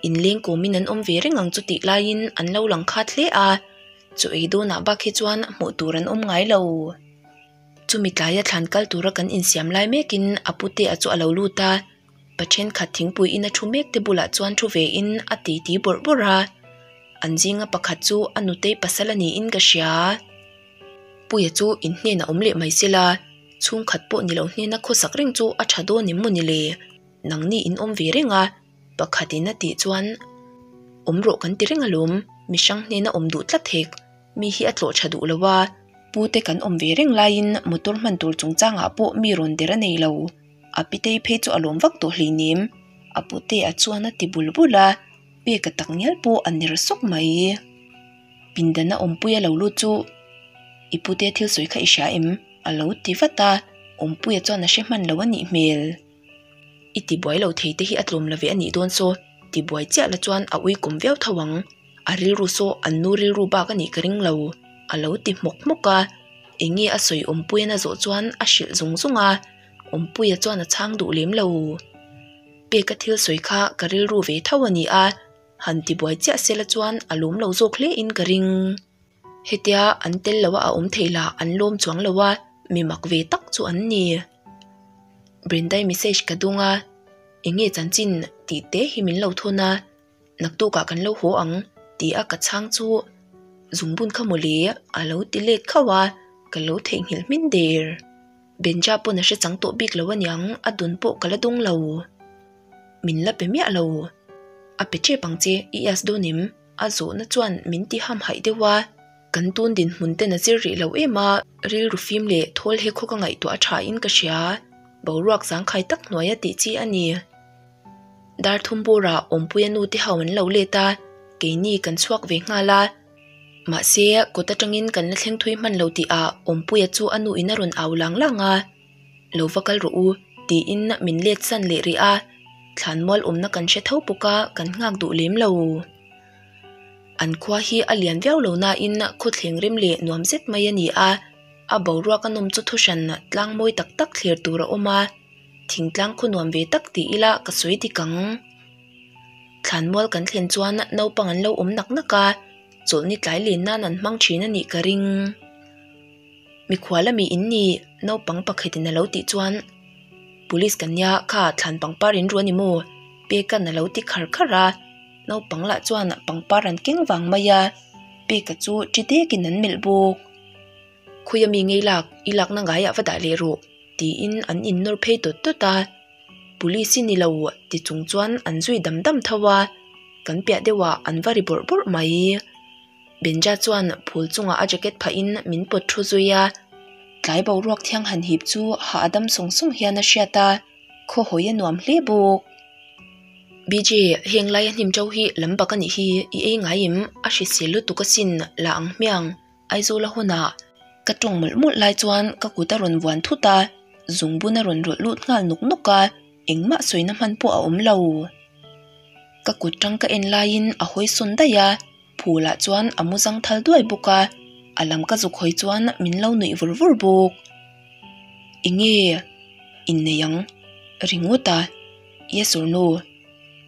in leng kum in an awm ve reng ang chu tih lai in an lo lang khat hle a, chu ei dawn ah bakah chuan hmuh tur an awm ngai lo. Chu mi tlai a thlan kal tur a kan in siam lai mek in a pute a chu a lo lut a, pa thenkhat thingpui in a thu mek te bulah chuan thu ve in a titi bawrh bawrh a, an zing a pakhat chu a nu tei pasal a ni in ka hria. puia chu in hnenah awm leh mai se la chhungkhat pawh ni lo hnena khawsak reng chu a tha dawn em maw ni le nang ni in awm ve reng a pakhat in a tih chuan awm rawh kan ti reng alawm mi hrang hnena awm duh tlat thek mi hi a tlawh tha duh lo a pu te kan awm ve reng lai in motor hman tur chung chang ah pawh mi rawn der a nei lo a pitei phei chu a lawm vak tawh hleinem a pu te ah chuan a ti bul bul a. peka tak ngial pawh a ner sawk mai i pindan a awmpui a lo lut chu i pute thil sawi kha i hria em a lo ti vat a awmpuia chuan a hre hman loh a nih hmel i ti buai lo thei te hi a tlawm lo ve a nih dawn saw ti buai chiah la chuan a awikawm viau tho ang a rilru saw an nu rilru bak a nih ka ring lo a lo ti hmawk hmawk a eng nge a sawi awmpuiana zawh chuan a hrilh zung zung a awmpuia chuan a chhang duh lem lo. Pek a thil sawi kha ka rilru ve tho a ni a, han tibuai chiah sela chuan a lum lo zawk hle in ka ring. Hetia an tel loh a a awm thei la an lawm chuang lo a, mi mak ve tak chu an ni. Brinda-i message ka dung a, Enge chanchin tih te hi min lo thawn a. Naktukah kan lo haw ang tih a ka chhang chu zungbun kha mawle a lo ti let khauh a ka lo theihnghilh hmin der. Benja pawn a hrechang tawh bik lo a niang a dun pawh ka la dawng lo. Min la pe miah lo. A pe tep ang che i as dawn em? A zawhna chuan min ti hamhaih deuh a, kan tun dinhmun ten a zir rih loh em a, rilru fim leh thawl he khaw ka ngaihtuah a tha in ka hria, boruak zangkhai tak hnuaia tih chi a ni. Dar thum bura awmpuia nu te ho an lo let a, keini kan chhuak ve nghal a, mahse kut atangin kan la thleng thui hman lo tih ah awmpuia chu a nu in a rawn au lang lang a, lo va kal rawh u tiin min let san leh rih a, thlan mual awmna kan hre tho bawk a kan nghak duh lem lo. An khua hi a lian viau lo nain khaw thleng rem leh nuam zet mai a ni a, a boruak a nawm chu thu hran tlang mawi tak tak thler tur a awm a, thing tlang khaw nuam ve tak tih ila ka sawi dik ang thlan mual kan thlen chuan naupang an lo awm nak nak a chawlhni tlai len nan an hmang thin a nih ka ring mikhua la mihin ni naupang pakhat in a lo tih chuan police kan nia kha thlan pangpar in ru a ni maw pek a na lo ti khar khar a naupang lah chuan pangpar an keng vang mai a pek a chu ti dek in an melh bawk. Khawi ami ngei lak, i lakna ngaiah va dah leh rawh, tiin an innawr phei tawt tawt a. Police-i ni lo ti chung chuan an zui dam dam tho a, kan piah deuhah an va ri bawrh bawrh mai. Benja chuan phul chungah a jacket phah in min pawt thu zui a, tlai boruak thiang han hip chu hah a dam sawng sawng hian a hriat a, khaw hawi a nuam hle bawk. BJ, heng laia hnim to hi lam bak a nih hi, i ei ngai em? A hrisel lutuk asin, la ang hmiang. Aizawl a hunah ka ṭawng mawlh mawlh lai chuan ka kut a rawn vuan thut a, zungbun a rawn rawlh lut nghal nawk nawk a, engmah sawina hman pawh a awm lo. Ka kut ṭang ka en laiin a hawisawn daih a, phûlah chuan a mu zang thal duai bawk a, a lam ka zuk hawi chuan min lo nuih vur vur bawk. Enge inneih ang ringawt a i a sawrnu,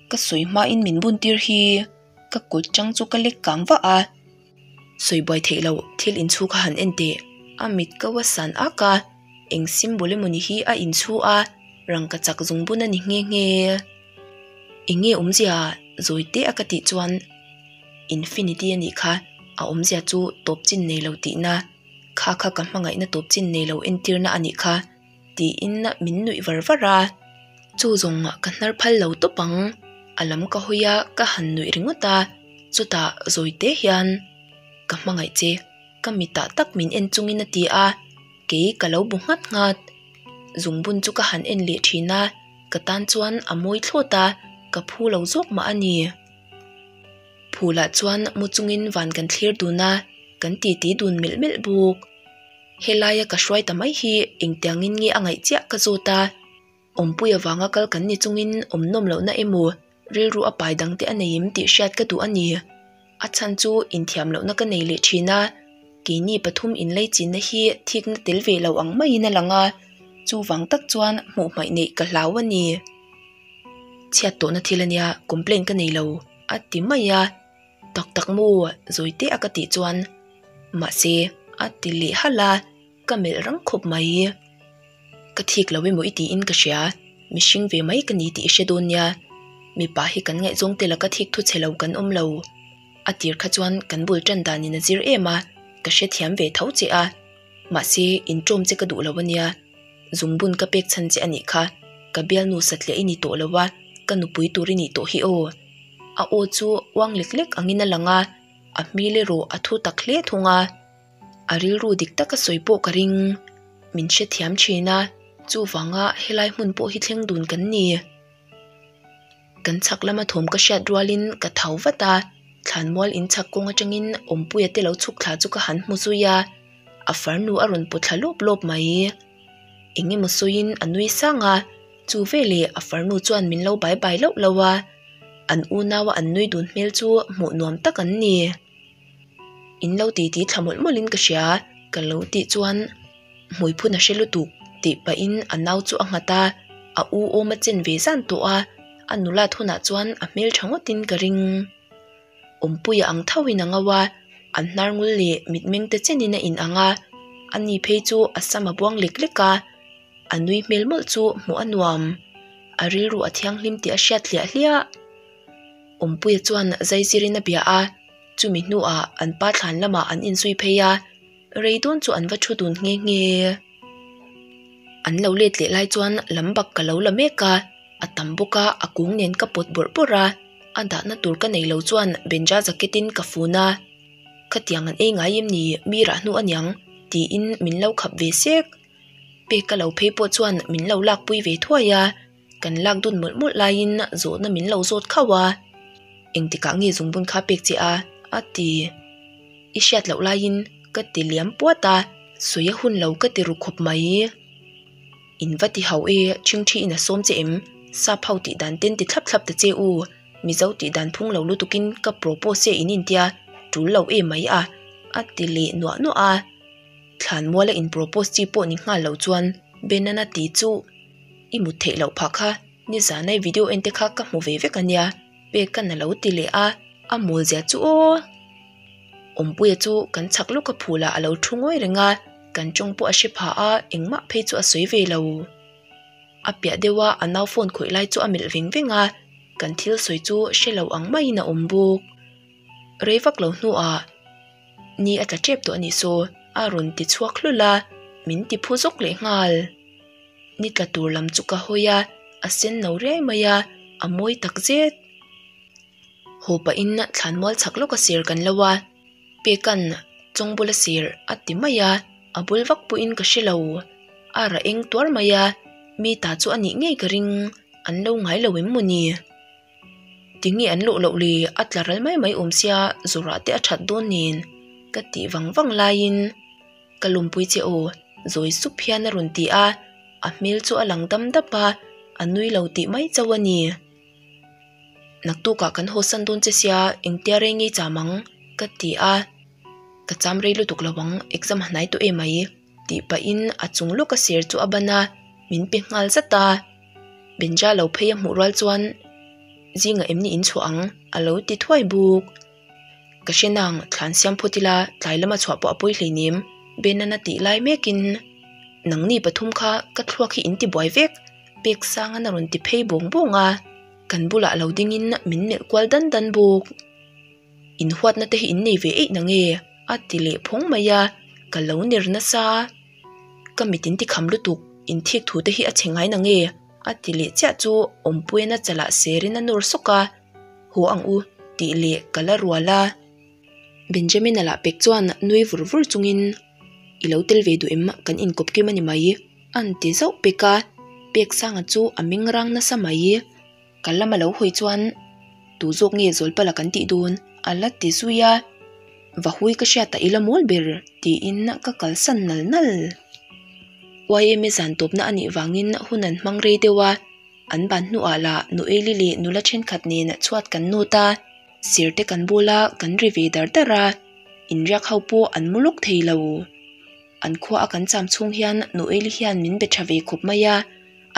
ka sawi hmain min buntir hi ka kut ṭang chu ka lek kang vah a. sawi buai theih loh thil in chhuk a han en teh a mit ko a san ak a eng symbol emaw ni hi a in chhuah a rangkachak zung bun a ni nghe nghe eng nge awmzia ah zawi teh a ka tih chuan infinity a nih kha a awmzia chu tawp chin nei lo tihna kha kha ka hmangaihna tawp chin nei lo entir na a nih kha. tiin min nuih var var a chu zawngah ka hnar phal lo tawp ang a lam ka hawi a ka han nuih ringawt a chutah zawite hian ka hmangaih che ka mitah tak min en chung in a ti a kei ka lo bu nghat nghat zungbun chu ka han en leh thin a ka tan chuan a mawi thlawt a ka phu lo zawk mah a ni phul ah chuan mu chungin van kan thlir dun a kan titi dun melh melh bawk. helaia ka hruai ta mai hi engtiang in nge a ngaih chiah ka zut a, Awmpui avanga kal kan ni chungin awmnawm lohna emaw rilru a pai dangte a nei em tih hriat ka duh a ni. A chhan chu inthiam lohna ka nei leh thin a, keini pathum inlei chinna hi thikna tel ve lo ang maiin a lang a, chuvang tak chuan hmuh hmaih neih ka hlau a ni. Chhiat tawhna thil ania complain ka nei lo a ti mai a. Tak tak mu zawite a ka tih chuan mahse a ti leh hal a ka melh rang khawp mai i ka thik lo emaw i tiin ka hria mihring ve mai ka ni tih i hre dawn nia mipa hi kan ngaih zawng te la ka thik thu che lo kan awm lo a tir kha chuan kan bul tan dan in a zir em a ka hrethiam ve tho che a mahse in tawm che ka duh lo a nia zungbun ka pek chhan che a nih kha ka bialnu satliah i ni tawh lo a ka nupui tur i nih tawh hi aw. a u chu uang lek lek angin a lang a a hmil erawh a thu tak hle thung a a rilru dik taka sawi pawh ka ring min hrethiam thin a chuvanga helai hmun pawh hi thleng dun kan ni kan chhak lama thawm ka hriat rualin ka thau vat a thlan mual in chhak kawng atangin awmpuia te lo chhuk thla chu ka han hmu zui a a farnu a rawn pu thla lawp lawp mai. eng emaw sawiin a nui sang a chu veleh a far nu chuan min lo bai bai loh loh a an unau a an nui dun hmel chu hmuh nuam tak an ni in lo ti ti thla mawlh mawlhin ka hria ka lo tih chuan hmui phun a hre lutuk tih pahin a nau chu a nghat a a u awm a chen ve zan tawh a a nulat hunah chuan a hmel tha ngawtin ka ring. Awmpuia ang thauhin a ngau a, an hnar ngul leh mitmeng te chenin a inang a, a ni phei chu a sam a buang lek lek a, a nui hmel mawlh chu hmuh a nuam, a rilru a thianghlim tih a hriat hliah hliah. Awmpuia chuan zaizirin a bia a, chumi hnuah an pa thlan lamah an inzui phei a. rei dawn chu an va thu dun nghe nghe a an lo let leh lai chuan lam bak ka lo la mek a a tam bawk a a kung nen ka pawt bawrh bawrh a a dahna tur ka nei lo chuan banja jacket in ka fun a khatiang an ei ngai em ni mi rah hnu aniang tiin min lo khap ve sek pek ka lo phei pawh chuan min lo lakpui ve thuai a. kan lak dawn mawlh mawlh laiin zawhna min lo zawt khauh a, engtikah nge zungbun kha pek che a? a ti. I hriat loh laiin ka ti liam puat a, sawi a hun lo ka ti ru khawp mai. In va ti hauh e, Chhingthi ina sawm che em? Sap ho tih dan ten ti thlap thlap ta che u, Mizo tih dan phung lo lutukin ka propose che in intia tul lo e mai a, a ti leh nuah nuah a. Thlan muala in propose chi pawh ni nghal lo chuan Ben-a na ti chuh. i mut theih loh phah kha nizanai video en te kha ka hmu ve vek a nia pek ka na lo ti leh a a mawl zia chu aw awmpuia chu kan chak lawk a phul ah a lo thu ngawi reng a kan tawng pawh a hre phah a engmah phei chu a sawi ve lo a piah deuh a a nau phone khawih lai chu a melh veng veng a kan thil sawi chu hre lo ang mai in a awm bawk. rei vak lo hnuah ni a tla tep tawh a nih saw a rawn ti chhuak hlul a, min ti phu zawk leh nghal. Ni tla tur lam chu ka hawi a, a senno riai mai a, a mawi tak zet. Haw pahin thlan mual chak lawk a ser kan lo a, pekan chawng bula ser a ti mai a, a bul vak pawhin ka hre lo. A rah eng tuar mai a, mi tah chu a nih ngei ka ring an lo ngai lo em maw ni? ti nge an luh loh li a tlaral mai mai awm sia zurah te a that dawn nen ka ti vang vang laiin ka lawmpui che aw zawi sup hian a rawn ti a a hmel chu a lang dam dap a a nui lo tih mai chauh a ni naktuk ah kan hawsan dawn che sia engtia rei ngei cham ang ka ti a ka cham rei lutuk lo ang exam a hnai tawh em mai. tih pahin a chung lawka sir chu a ban a min pe nghal zat a Bincha lo phei a hmuh rual chuan zingah em ni inchhuah ang a lo ti thuai bawk ka hrena ang thlan siam phawt ila tlai lama chhuah pawh a pawi hleinem be nana tih lai mekin nangni pathum kha ka thluak hi in ti buai vek pek sang an a rawn ti phei bawng bawng a kan bulah lo dingin min melh kual dan dan bawk. inhuatna te hi in nei ve eih na nge a ti leh phawng mai a ka lo ner nasa a ka mit in ti kham lutuk in thik thu te hi a che ngai na nge a ti leh chiah chu awmpuiana chalah ser in a nawr sawk a haw ang u tih leh ka la rual a Benjamin a lah pek chuan nui vur vur chung in i lo tel ve duh em kan in kawp kim a ni mai an ti zauh pek a Peksanga chu a meng rang nasa mai. Ka lam a lo hawi chuan tu zawk nge Zawlpala kan tih dun a la ti zui a, vahui ka hriat a ila mawl ber tiin ka kalsan nal nal. Ym e zan tawpna a nih vangin hun an hmang rei deuh a, an ban hnuah la Nu Eili leh nula thenkhat nen chhuat kan nawt a, ser te kan bul a, kan ri ve dar dar a, inriak ho pawh an mu lawk thei lo. An khua a kan cham chhung hian Noeli hian min be tha ve khawp mai a,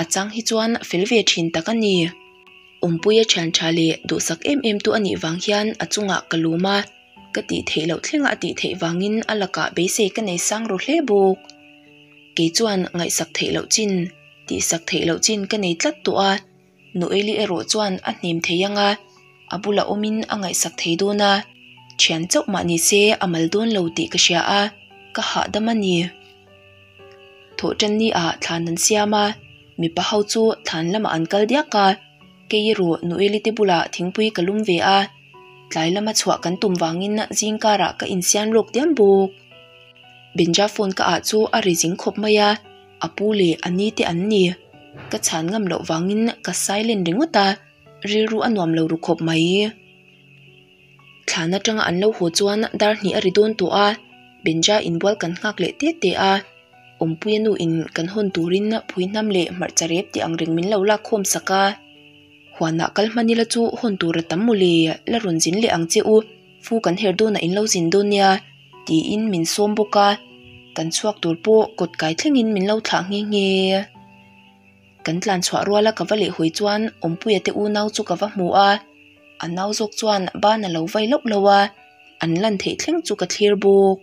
a chang hi chuan a fel ve thin tak a ni. Awmpui a thian tha leh duhsak em em tu a nih vang hian a chungah ka lum a, ka tih theih loh thleng a a tih theih vangin a lakah beisei ka nei sang rawh hle bawk. Kei chuan ngaihsak theih loh chin, tihsak theih loh chin ka nei tlat tawh a. Noeli erawh chuan a hnem thei anga a bula awmin a ngaihsak thei dawn a, Thian chauh mah ni se a mal dawn lo tih ka hria a, ka hahdam a ni. Thawhṭan ni ah thlan an siam a, mipa ho chu thlan lam ah an kal diak a, kei erawh Noeli te bulah thingpui ka lum ve a, tlai lam a chhuah kan tum vangin zingkar ah ka insiam lawk diam bawk. Benja phone ka ah chu a ri zing khawp mai a, A pu leh a ni te an ni. Ka chhan ngam loh vangin ka silent ringawt a, rilru a nuam lo ru khawp mai. Thlan atanga an lo haw chuan Darhnih a ri dawn tawh a, Benja inbual kan nghak leh teh teh a, Awmpuia nu in kan hawn turin phui hnam leh hmarcha rep tih ang reng min lo lak khawm sak a. Huanah kal hman ila chu hawn tur a tam mawle la rawn zin leh ang che u. Fu kan herh dawn a in lo zin dawn nia tiin min sawm bawk a, kan chhuak tur pawh kawt kai thlengin min lo thlah nghe nghe a, kan tlan chhuah rual a ka va leh hawi chuan Awmpuia te u nau chu ka va hmu a, a nau zawk chuan ban a lo vai lauh lauh a, an lan theih thleng chu ka thlir bawk.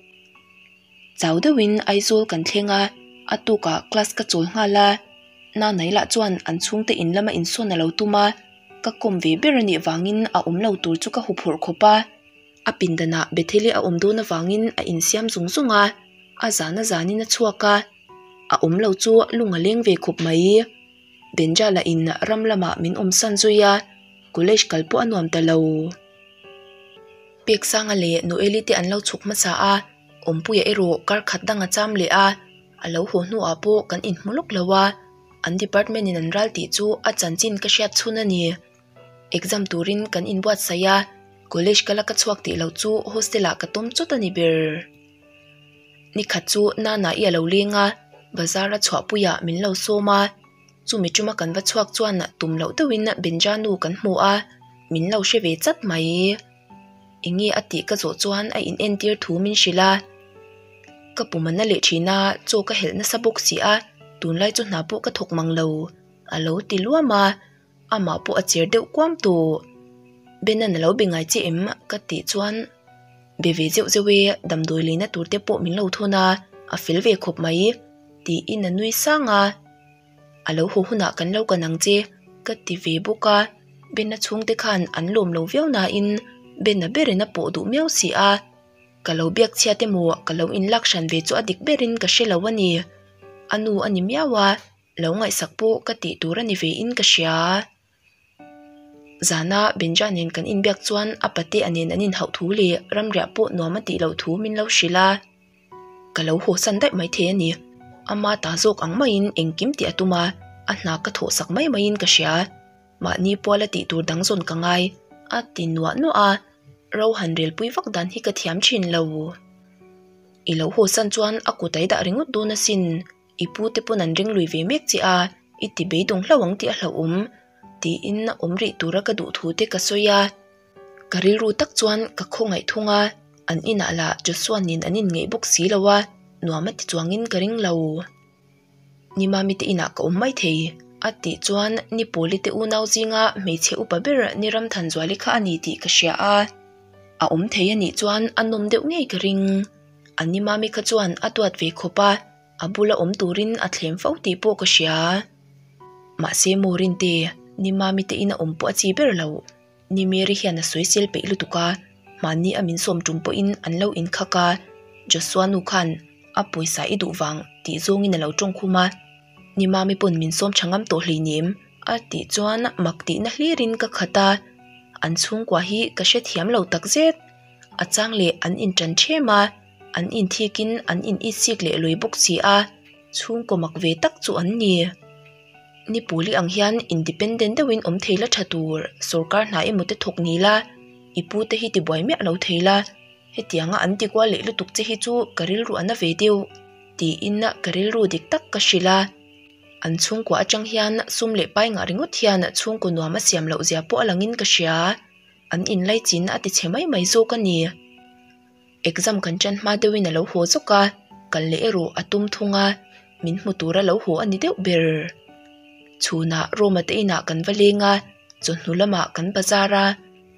Chau deuhin Aizawl kan thleng a, a tukah class ka chawl nghal a, Nanai lah chuan an chhungte in lama insawn a lo tum a, ka kawm ve ber a nih vangin a awm lo tur chu ka hu phawrh khawp a. A pindanah Bethel-i a awm dun avangin a insiam zung zung a, a zan a zanin a chhuak a, a awm lo chu lung a leng ve khawp mai. Benjala in ram lamah min awmsan zui a, college kal pawh a nuam ta lo. Peksanga leh Noeli te an lo chhuk hmasa a, Awmpuia erawh kar khat dang a cham leh a, a lo haw hnuah pawh kan inhmu lawk lo a, an department in an ral tih chu a chanchin ka hriat chhun a ni. Exam turin kan inbuatsaih a, college ka la ka chhuak tih loh chu hostel ah ka tum chawt a ni ber. Ni khat chu Nana i a lo leng a, bazar a chhuah puiah min lo sawm a. chumi tuma kan va chhuak chuan ah tum loh deuh in a Benjanu kan hmu a min lo hre ve chat mai i eng nge a tih ka zawh chuan a in en tir thu min hrilh a ka pu man a leh thin a chaw ka helh nasa bawk si a tunlai chu hna pawh ka thawk mang lo alo ti luam a. amah pawh a chir deuh kuam tu Ben an alo be ngai che em ka tih chuan be ve zeuh zeuh e damdawi leh na tur te pawh min lo thawn a a fel ve khawp mai tiin a nui sang a alo haw hunah kan lo kan ang che ka ti ve bawk a Ben a chhung te khan an lawm lo viau na in Ben a ber in a pawh duh miau si a ka lo biak chhiat emaw ka lo in lak hran ve chu a dik ber in ka hre lo a ni a nu a ni miau a. lo ngaihsak pawh ka tih tur a ni ve in ka hria a, zana Benja nen kan in biak chuan a pa te a nen an in hauh thu leh ram riah pawh nuam a tih loh thu min lo hrilh a, ka lo haw san daih mai thei a ni, ama tah zawk ang maiin engkim tih a tum a, a hna ka thawh sak mai mai in ka hria a, mahni pual a tih tur dang zawn ka ngai a ti nuah nuah a, ro han rel pui vak dan hi ka thiam thin lo, i lo haw san chuan a kut a i dah ringawt dun asin. i pu te pawn an ring lui ve mek che a i ti beidawng hlauh ang tih a hlauhawm tiin a awm rih tura ka duh thu te ka sawi a ka rilru tak chuan ka khaw ngaihthung a an inah lah Joshua-nin an inngeih bawk si lo a nuam a ti chuangin ka ring lo ni mami te inah ka awm mai thei a ti chuan ni pawli te unau zinga hmeichhe upa ber ni Ramthan Zuali kha a ni tih ka hria a a awm thei a nih chuan a nawm deuh ngei ka ring. An nima mi kha chuan a tuat ve khawp a, a bula awm turin a thlem fo tih pawh ka hria a. Mahse Morin te nima mi tein a awm pawh a chi ber lo. Ni Mary hian a sawi sel peih lutuk a, mahni a min sawm tum pawhin an lo inkhak a. Joshua nu khan a pawisa i duh vang tih zawngin a lo tawng khum a, nima mi pawn min sawm tha ngam tawh hleinem a tih chuan mak tihna hlirin ka khat a, an chhungkua hi ka hrethiam lo takzet. a chang leh an in ṭan ṭhem a an in thik in an in it sik leh lui bawk si a chhungkaw mak ve tak chu an ni ni pawli ang hian independent deuh in awm thei la ṭha tur sawrkar hnah emaw te thawk ni la i pu te hi ti buai miah lo thei la hetianga an ti kual leh lutuk che hi chu ka rilru a na ve deuh tiin ka rilru dik tak ka hrilh a an chhungkaw aṭang hian sum leh pai ngah ringawt hian chhungkaw nuam a siam loh zia pawh a lang in ka hria. An inlai chinna a ti chhe mai mai zawk a ni. Exam kan ṭan hma deuhin a lo haw zawk a, ka leh erawh a tum thung a, min hmu tur a lo haw a ni deuh ber. Chhunah Roma te inah kan va leng a, chawhnu lamah kan bazar a,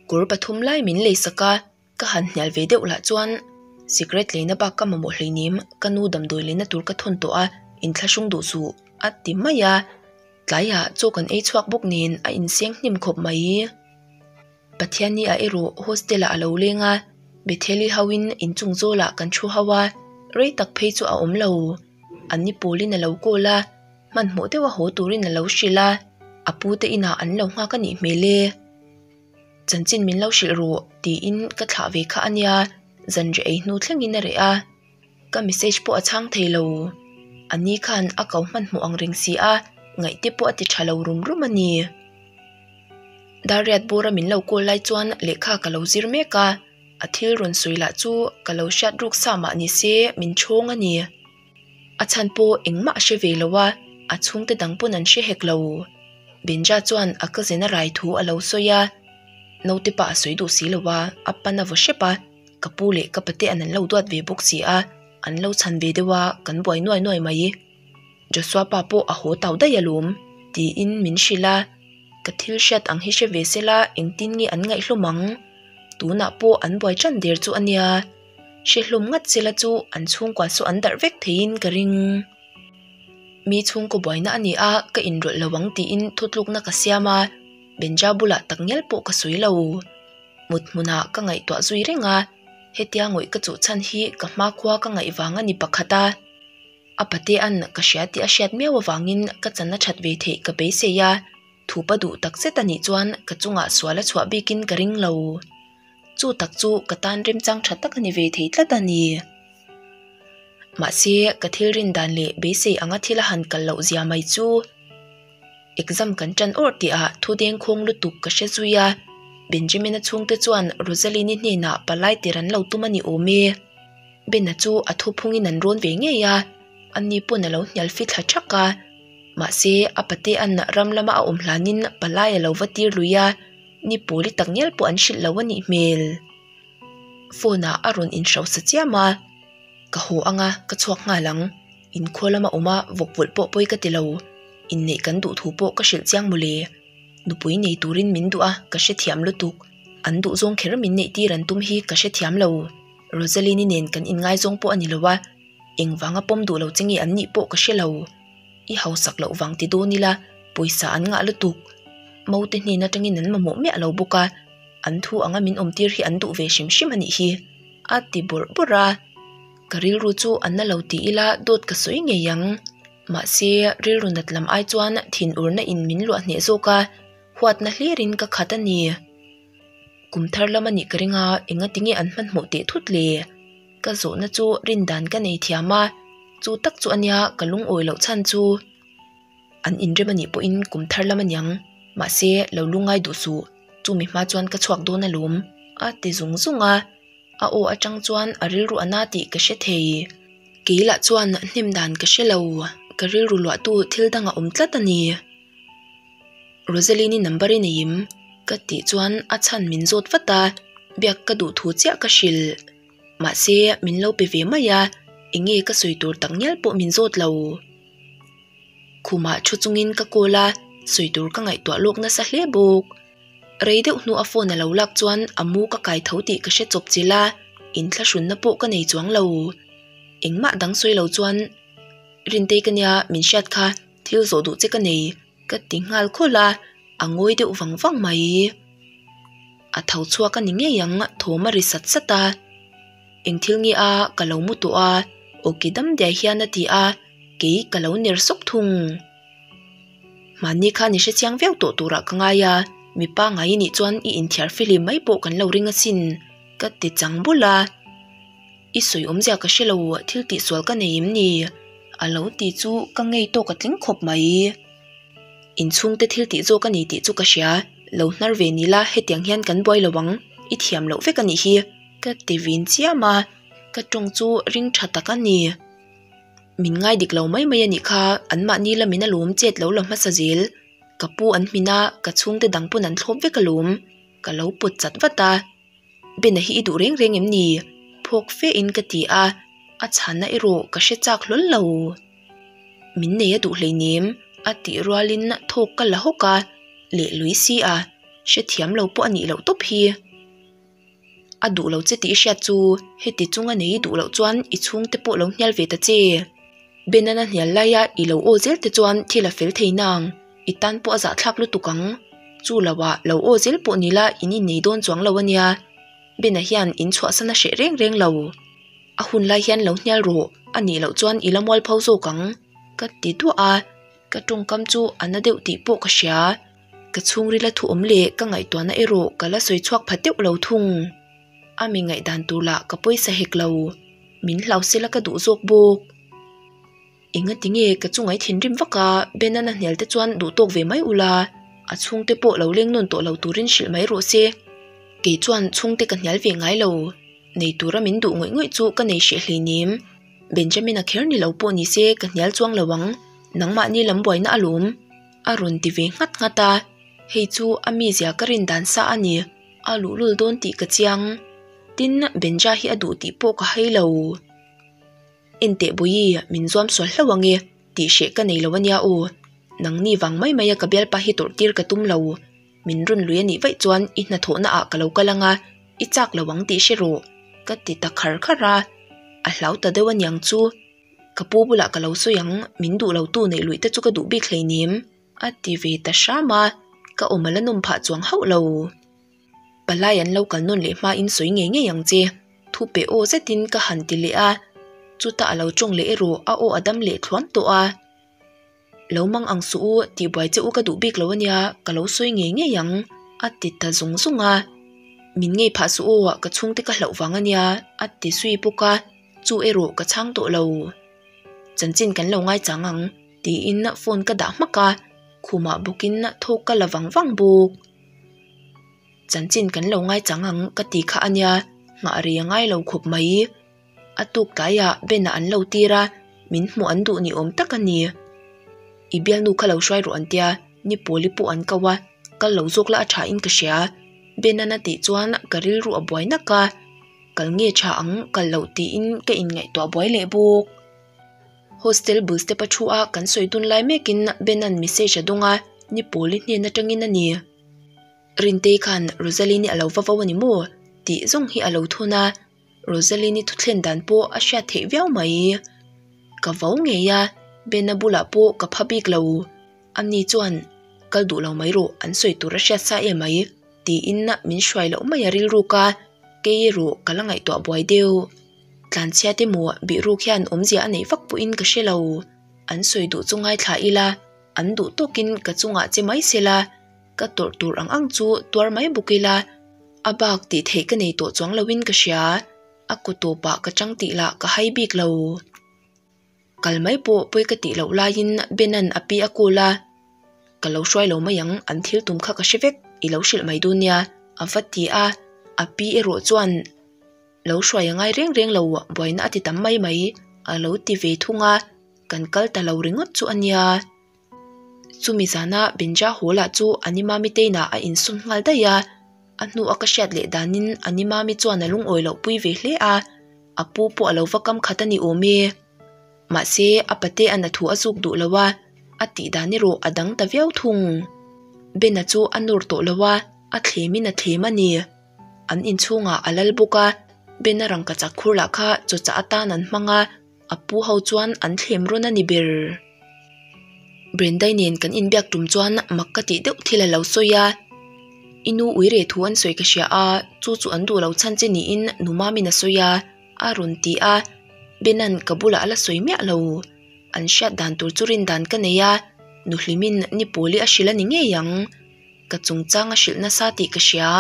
kawr pathum lai min lei sak a, ka han hnial ve deuh lah chuan Cigarette tleina bak ka mamawh hleinem, ka nu damdawi lehna tur ka thawn tawh a, in thla hrung duh suh a ti mai a. Tlaiah chu kan ei chhuak bawk niin a inseng hnim khawp mai i, Pathian nia erawh hostel ah a lo leng a, Bethel i hauhin inchung zawl ah kan thu hau a, rei tak phei chu a awm lo. An ni pawl in a lo call a, hmanhmawh deuh a haw tur in a lo hrilh a, a pu te in ah an lo nghak a nih hmel e. Chanchin min lo hrilh rawh tiin ka thlah ve kha a nia, zanriah ei hnu thleng in a reh a. Ka message pawh a chhang thei lo, ani khan a kau hman hmuh ang reng si a, ngaih te pawh a ti tha lo rum rum a ni. Dariat bura min lo call lai chuan lehkha ka lo zir mek a, a thil rawn sawi lah chu ka lo hriat ruk sa mah ni se min chhawng a ni. A chhan pawh engmah a hre ve lo a, a chhung te dang pawn an hre hek lo. Benja chuan a ka zen a rai thu a lo sawi a, naute pah a sawi duh si lo a, a pan a vaw hrep a. ka pu leh ka pate an lo duat ve bawk si a, an lo chhan ve deuh a, kan buai nuai nuai mai. Joshua pa pawh a haw tau daih alawm, tiin min hrilh a, ka thil hriat ang hi hre ve sela engtin nge an ngaihhlawm ang? Tunah pawh an buai ṭan der chu a nia, hre hlawm ngat sela chu an chhungkua saw an darh vek theiin ka ring. Mi chhungkaw buaina a ni a, ka inrawlh lo ang tiin thawtlukna ka siam a, Benja bulah tak ngial pawh ka sawi lo. mut hmuna ka ngaihtuah zui reng a, hetia ngawih ka chuh chhan hi ka hma khua ka ngaih vang a ni pakhat a, a pate an ka hria tih a hriat miau avangin ka channa that ve theih ka beisei a, thup a duh tak zet anih chuan ka chungah sual a chhuah bikin ka ring lo, chu tak chu ka tan remchang tha tak a ni ve thei tlat a ni. Mahse, ka thil rindan leh beisei anga thil a han kal loh zia mai chu. exam kan tan awrh tih ah thu deng khawng lutuk ka hre zui a, Benjamin-a chhungte chuan Rosaline-i hnenah palai tir an lo tum a ni awm e. Ben-a chu a thu phungin an rawn ve ngei a, anni pawn a lo hnial fi thla thak a, mahse a pate an ram lama a awm hlanin palai a lo va tir lui a, ni pawli tak ngial pawh an hrilh loh a nih hmel. Phone-ah a rawn inhrosa chiam a, ka haw anga ka chhuak nghal ang. In khual lam a awm a vawkpawlh pawh pawi ka ti lo, inneih kan duh thu pawh ka hrilh chiang maw le. Nupui nei turin min duh a ka hrethiam lutuk, an duh zawng kher min neih tir an tum hi ka hrethiam lo. Rosaline-i nen kan inngai zawng pawh a ni lo a, engvanga pawm duh lo che nge an nih pawh ka hre lo. I hausak loh vang ti dawn ila pawisa an ngah lutuk. Mote hnen atangin an mamawh miah lo bawk a, an thu anga min awm tir hi an duh ve hrim hrim a nih hi a ti bawrh bawrh a. Ka rilru chu a na lo ti ila dawt ka sawi ngei ang. Mahse, rilru nat lam ai chuan thin urna in min luah hneh zawk a, huatna hlirin ka khat a ni. Kum thar lam a nih ka ring a, engatinge an hmanhmawh teh thut le? Ka zawhna chu rin dan ka nei thiam a, chu tak chu a nia ka lungawi loh chhan chu. an in rem anih pawhin kum thar lam aniang mahse lo lu ngai duh suh chumi hma chuan ka chhuak dawn alawm a ti zung zung a a aw atang chuan a rilru a na tih ka hre thei kei lah chuan hnem dan ka hrelo ka rilru luah tu thil dang a awm tlat ani Rosaline i number i nei im ka tih chuan a chhan min zawt vat a biak ka duh thu chiah ka hrilh. Mahse, min lo pe ve mai a, enge ka sawi tur tak ngial pawh min zawt lo. Khumah thu chungin ka call a, sawi tur ka ngaihtuah lawk nasa hle bawk. Rei deuh hnua phone a lo lak chuan a mu ka kai tho tih ka hre chawp che la, inthlahrunna pawh ka nei chuang lo. Engmah dang sawi lo chuan, Rintei ka nia, min hriat kha, thil zawh duh che ka nei, ka ti nghal khawl a, a ngawi deuh vang vang mai. a tho chhuak a ni ngei ang a thawm a ri sat sat a eng thil nge a ka lo mu tawh a aw ke dam diaih hian a ti a kei ka lo ner sawk thung mahni kha ni hre chiang viau tawh tur ah ka ngai a mi pangngai i nih chuan i in thiar filim mai pawh kan lo ring a sin ka ti chang bul a i sawi awm zia ka hre lo thil tih sual ka nei em ni a lo ti chu ka ngei tawk a tling khawp mai. Inchhungte thil tih zawk a ni tih chu ka hria lo hnar ve ni la hetiang hian kan buai lo ang i thiam loh vek a nih hi ka ti vin chiam a, ka tawng chu ring tha tak a ni. Min ngai dik lo mai mai a nih kha anmahni la min alawm chet lo la hmasa zel ka pu an hmin a ka chhungte dang pawn an thlawp vek alawm ka lo pawt chat vat a. Bena hi i duh reng reng em ni? Phawk fe in ka ti a, a chhanna erawh ka hre chak hlawl lo. Min nei a duh hleinem? a tih rual in thawk ka la hawk a, leh Luisy a, hrethiam lo pawh a nih loh tawp hi. A duh lo che tih i hriat chu heti chunga nei i duh loh chuan i chhung te pawh lo hnial ve ta che. Bena na hnial laia i lo aw zel te chuan thil a fel thei nang. I tan pawh a zah thlak lutuk ang. Chu lo ah lo aw zil pawh ni la in innei dawn chuang lo ania. Ben-a hian in chhuahsan a hreh reng reng lo. A hun lai hian lo hnial rawh, a nih loh chuan i la mual pho zawk ang ka ti duah a. Ka tawngkam chu a na deuh tih pawh ka hria. Ka chhungril a thuawm leh ka ngaihtuahna erawh ka la sawi chhuak phat deuh lo thung. A mi ngaihdan tur lah ka pawisa hek lo. Min hlauhsela ka duh zawk bawk. Enga tinge ka chu ngai thin rim vak a, Ben a nahnel te chuan duh tawk ve mai ula, a chhungte pawh lo leng nawn tawh lo turin hrilh mai rawh se. Kei chuan chhungte ka hnial ve ngai lo, nei tura min duh ngawih ngawih chu ka nei hriah hlei nim. Benjamin-a kher ni lo pawh ni se ka hnial chuang lo ang, nangmahni lam buaina a lum. A rawn ti ve nghat nghat a, hei chu a mizia ka rin dan sa a ni, a luh lul dawn tih ka chiang. Tin, Benja hi a duh tih pawh ka hai lo. Enteh Buii, min zuam sual hlauh ange, tih hreh ka nei lo ania aw. Nang ni vang mai maia ka bialpa hi tawrh tir ka tum lo. Min run lui anih vaih chuan i hnathawhna ah ka lo kal anga, i chak lo ang tih hre rawh, ka ti ta khar khar a. A hlau ta deuh aniang chu. Ka pu bulah ka lo sawi ang, min duh lo tu neih luih te chu ka duh bik hleinem. A ti ve ta hram a, ka awm a la nawm phah chuang hauh lo. palai an lo kal nawn leh hma in sawi ngei ngei ang che thu pe aw zet in ka han ti leh a chuta a lo tawng leh erawh a aw a dam leh thuam tawh a lo mang ang suh u tih buai che u ka duh bik lo a nia ka lo sawi ngei ngei ang a ti ta zawng zawng a min ngei phah suh aw ah ka chhung te ka hlauh vang a nia a ti zui bawk a chu erawh ka chhang tawh lo chanchin kan lo ngai chang ang tiin phone ka dah hmak a khumah bawk in thawk ka la vang vang bawk. Chanchin kan lo ngai chang ang ka ti kha a nia, nghah rei a ngai lo khawp mai. A tuk tlaiah Ben-a an lo tir a, min hmuh an duh ni awm tak a ni. I bialnu kha lo hruai rawh an tia, ni pawli pawh an kau a, kal lo zawk la a tha in ka hria. Ben-a na tih chuan ka rilru a buai nak a, kal nge tha ang kal loh tiin ka inngaihtuah buai leh bawk. Hostel bul step-a thu a kan sawi dun lai mekin Bena'n message a dawng a, Ni Pawl i hnen atangin a ni. Rintei khan Rosaline i a lo va vo a ni maw? tih zawng hi a lo thawn a, Rosaline i thutthlên dan pawh a hriat theih viau mai i, Ka vo ngei a, Bena bulah pawh ka pha bik lo. Anni chuan, Kal duh lo mai rawh, an sawi tur a hriat sa e mai, tiin min hruai loh mai a rilruk a, Kei erawh ka la ngaihtuah buai deuh. Tlanchhiate maw bihruk hian awmzia a neih vak pawhin ka hre lo, an sawi duh chu ngaithla ila, an duh tawkin ka chungah che mai sela, ka tawrh tur ang ang chu tuar mai bawk ila, a bak tih theih ka nei tawh chuang lovin ka hria, a kawtawpah ka chang tih lah ka hai bik lo. Kal mai pawh pawi ka tih loh laiin Bena'n a pi a kul a, Ka lo hruai lo mai ang, an thil tum kha ka hre vek, i lo hrilh mai dawn nia a va ti a, a pi erawh chuan lo hruai a ngai reng reng lo, buaina a ti tam mai mai a lo ti ve thung a, kan kal ta lo ringawt chu a nia. chumi zana Bincha Hula chu Ani Mami teina a insum nghal daih a, a hnu a ka hriat leh danin Ani Mami chuan a lungawi loh pui ve hle a, a pu pawh a lo va kam khat a ni awm e. Mahse, a pate an a thu a zuk duh lo a, a tih dan erawh a dang ta viau thung. Ben-a chu a nawr tawh lo a, a thlemin a thlem a ni. An inchhungah a lal bawk a, Ben-a rangkachak khur lah kha chawchah atan an hmang a, A pu ho chuan an thlem rawn a ni ber. Brenda-i nen kan inbiak tum chuan mak ka tih deuh thil a lo sawi a, I nu ui reh thu an sawi ka hria a, chu chu an duh lo chhan che niin nu Mamin a sawi a, a rawn ti a, Bena'n ka bulah a la sawi miah lo. An hriat dan tur chu rin dan ka nei a, nu Hlimin ni pawli a hrilh a ni ngei ang, ka chungchang a hrilh nasa tih ka hria,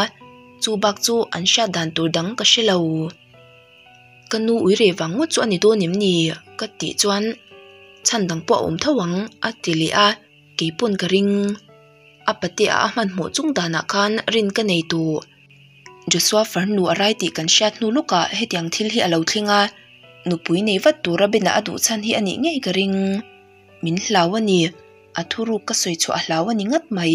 chu bak chu an hriat dan tur dang ka hre lo. Ka nu ui reh vang ngawt chu a ni dawn em ni? ka tih chuan chhan dang pawh a awm tho ang a ti leh a, kei pawn ka ring a pate a hmanhmawh chung danah khan rin ka nei tû. Joshua far nu a rai tih kan hriat hnu lawkah hetiang thil hi a lo thleng a, nupui nei vat tura Bena a duh chhan hi a nih ngei ka ring. Min hlau a ni, a thurûk ka sawi chhuah hlau a ni ngat mai.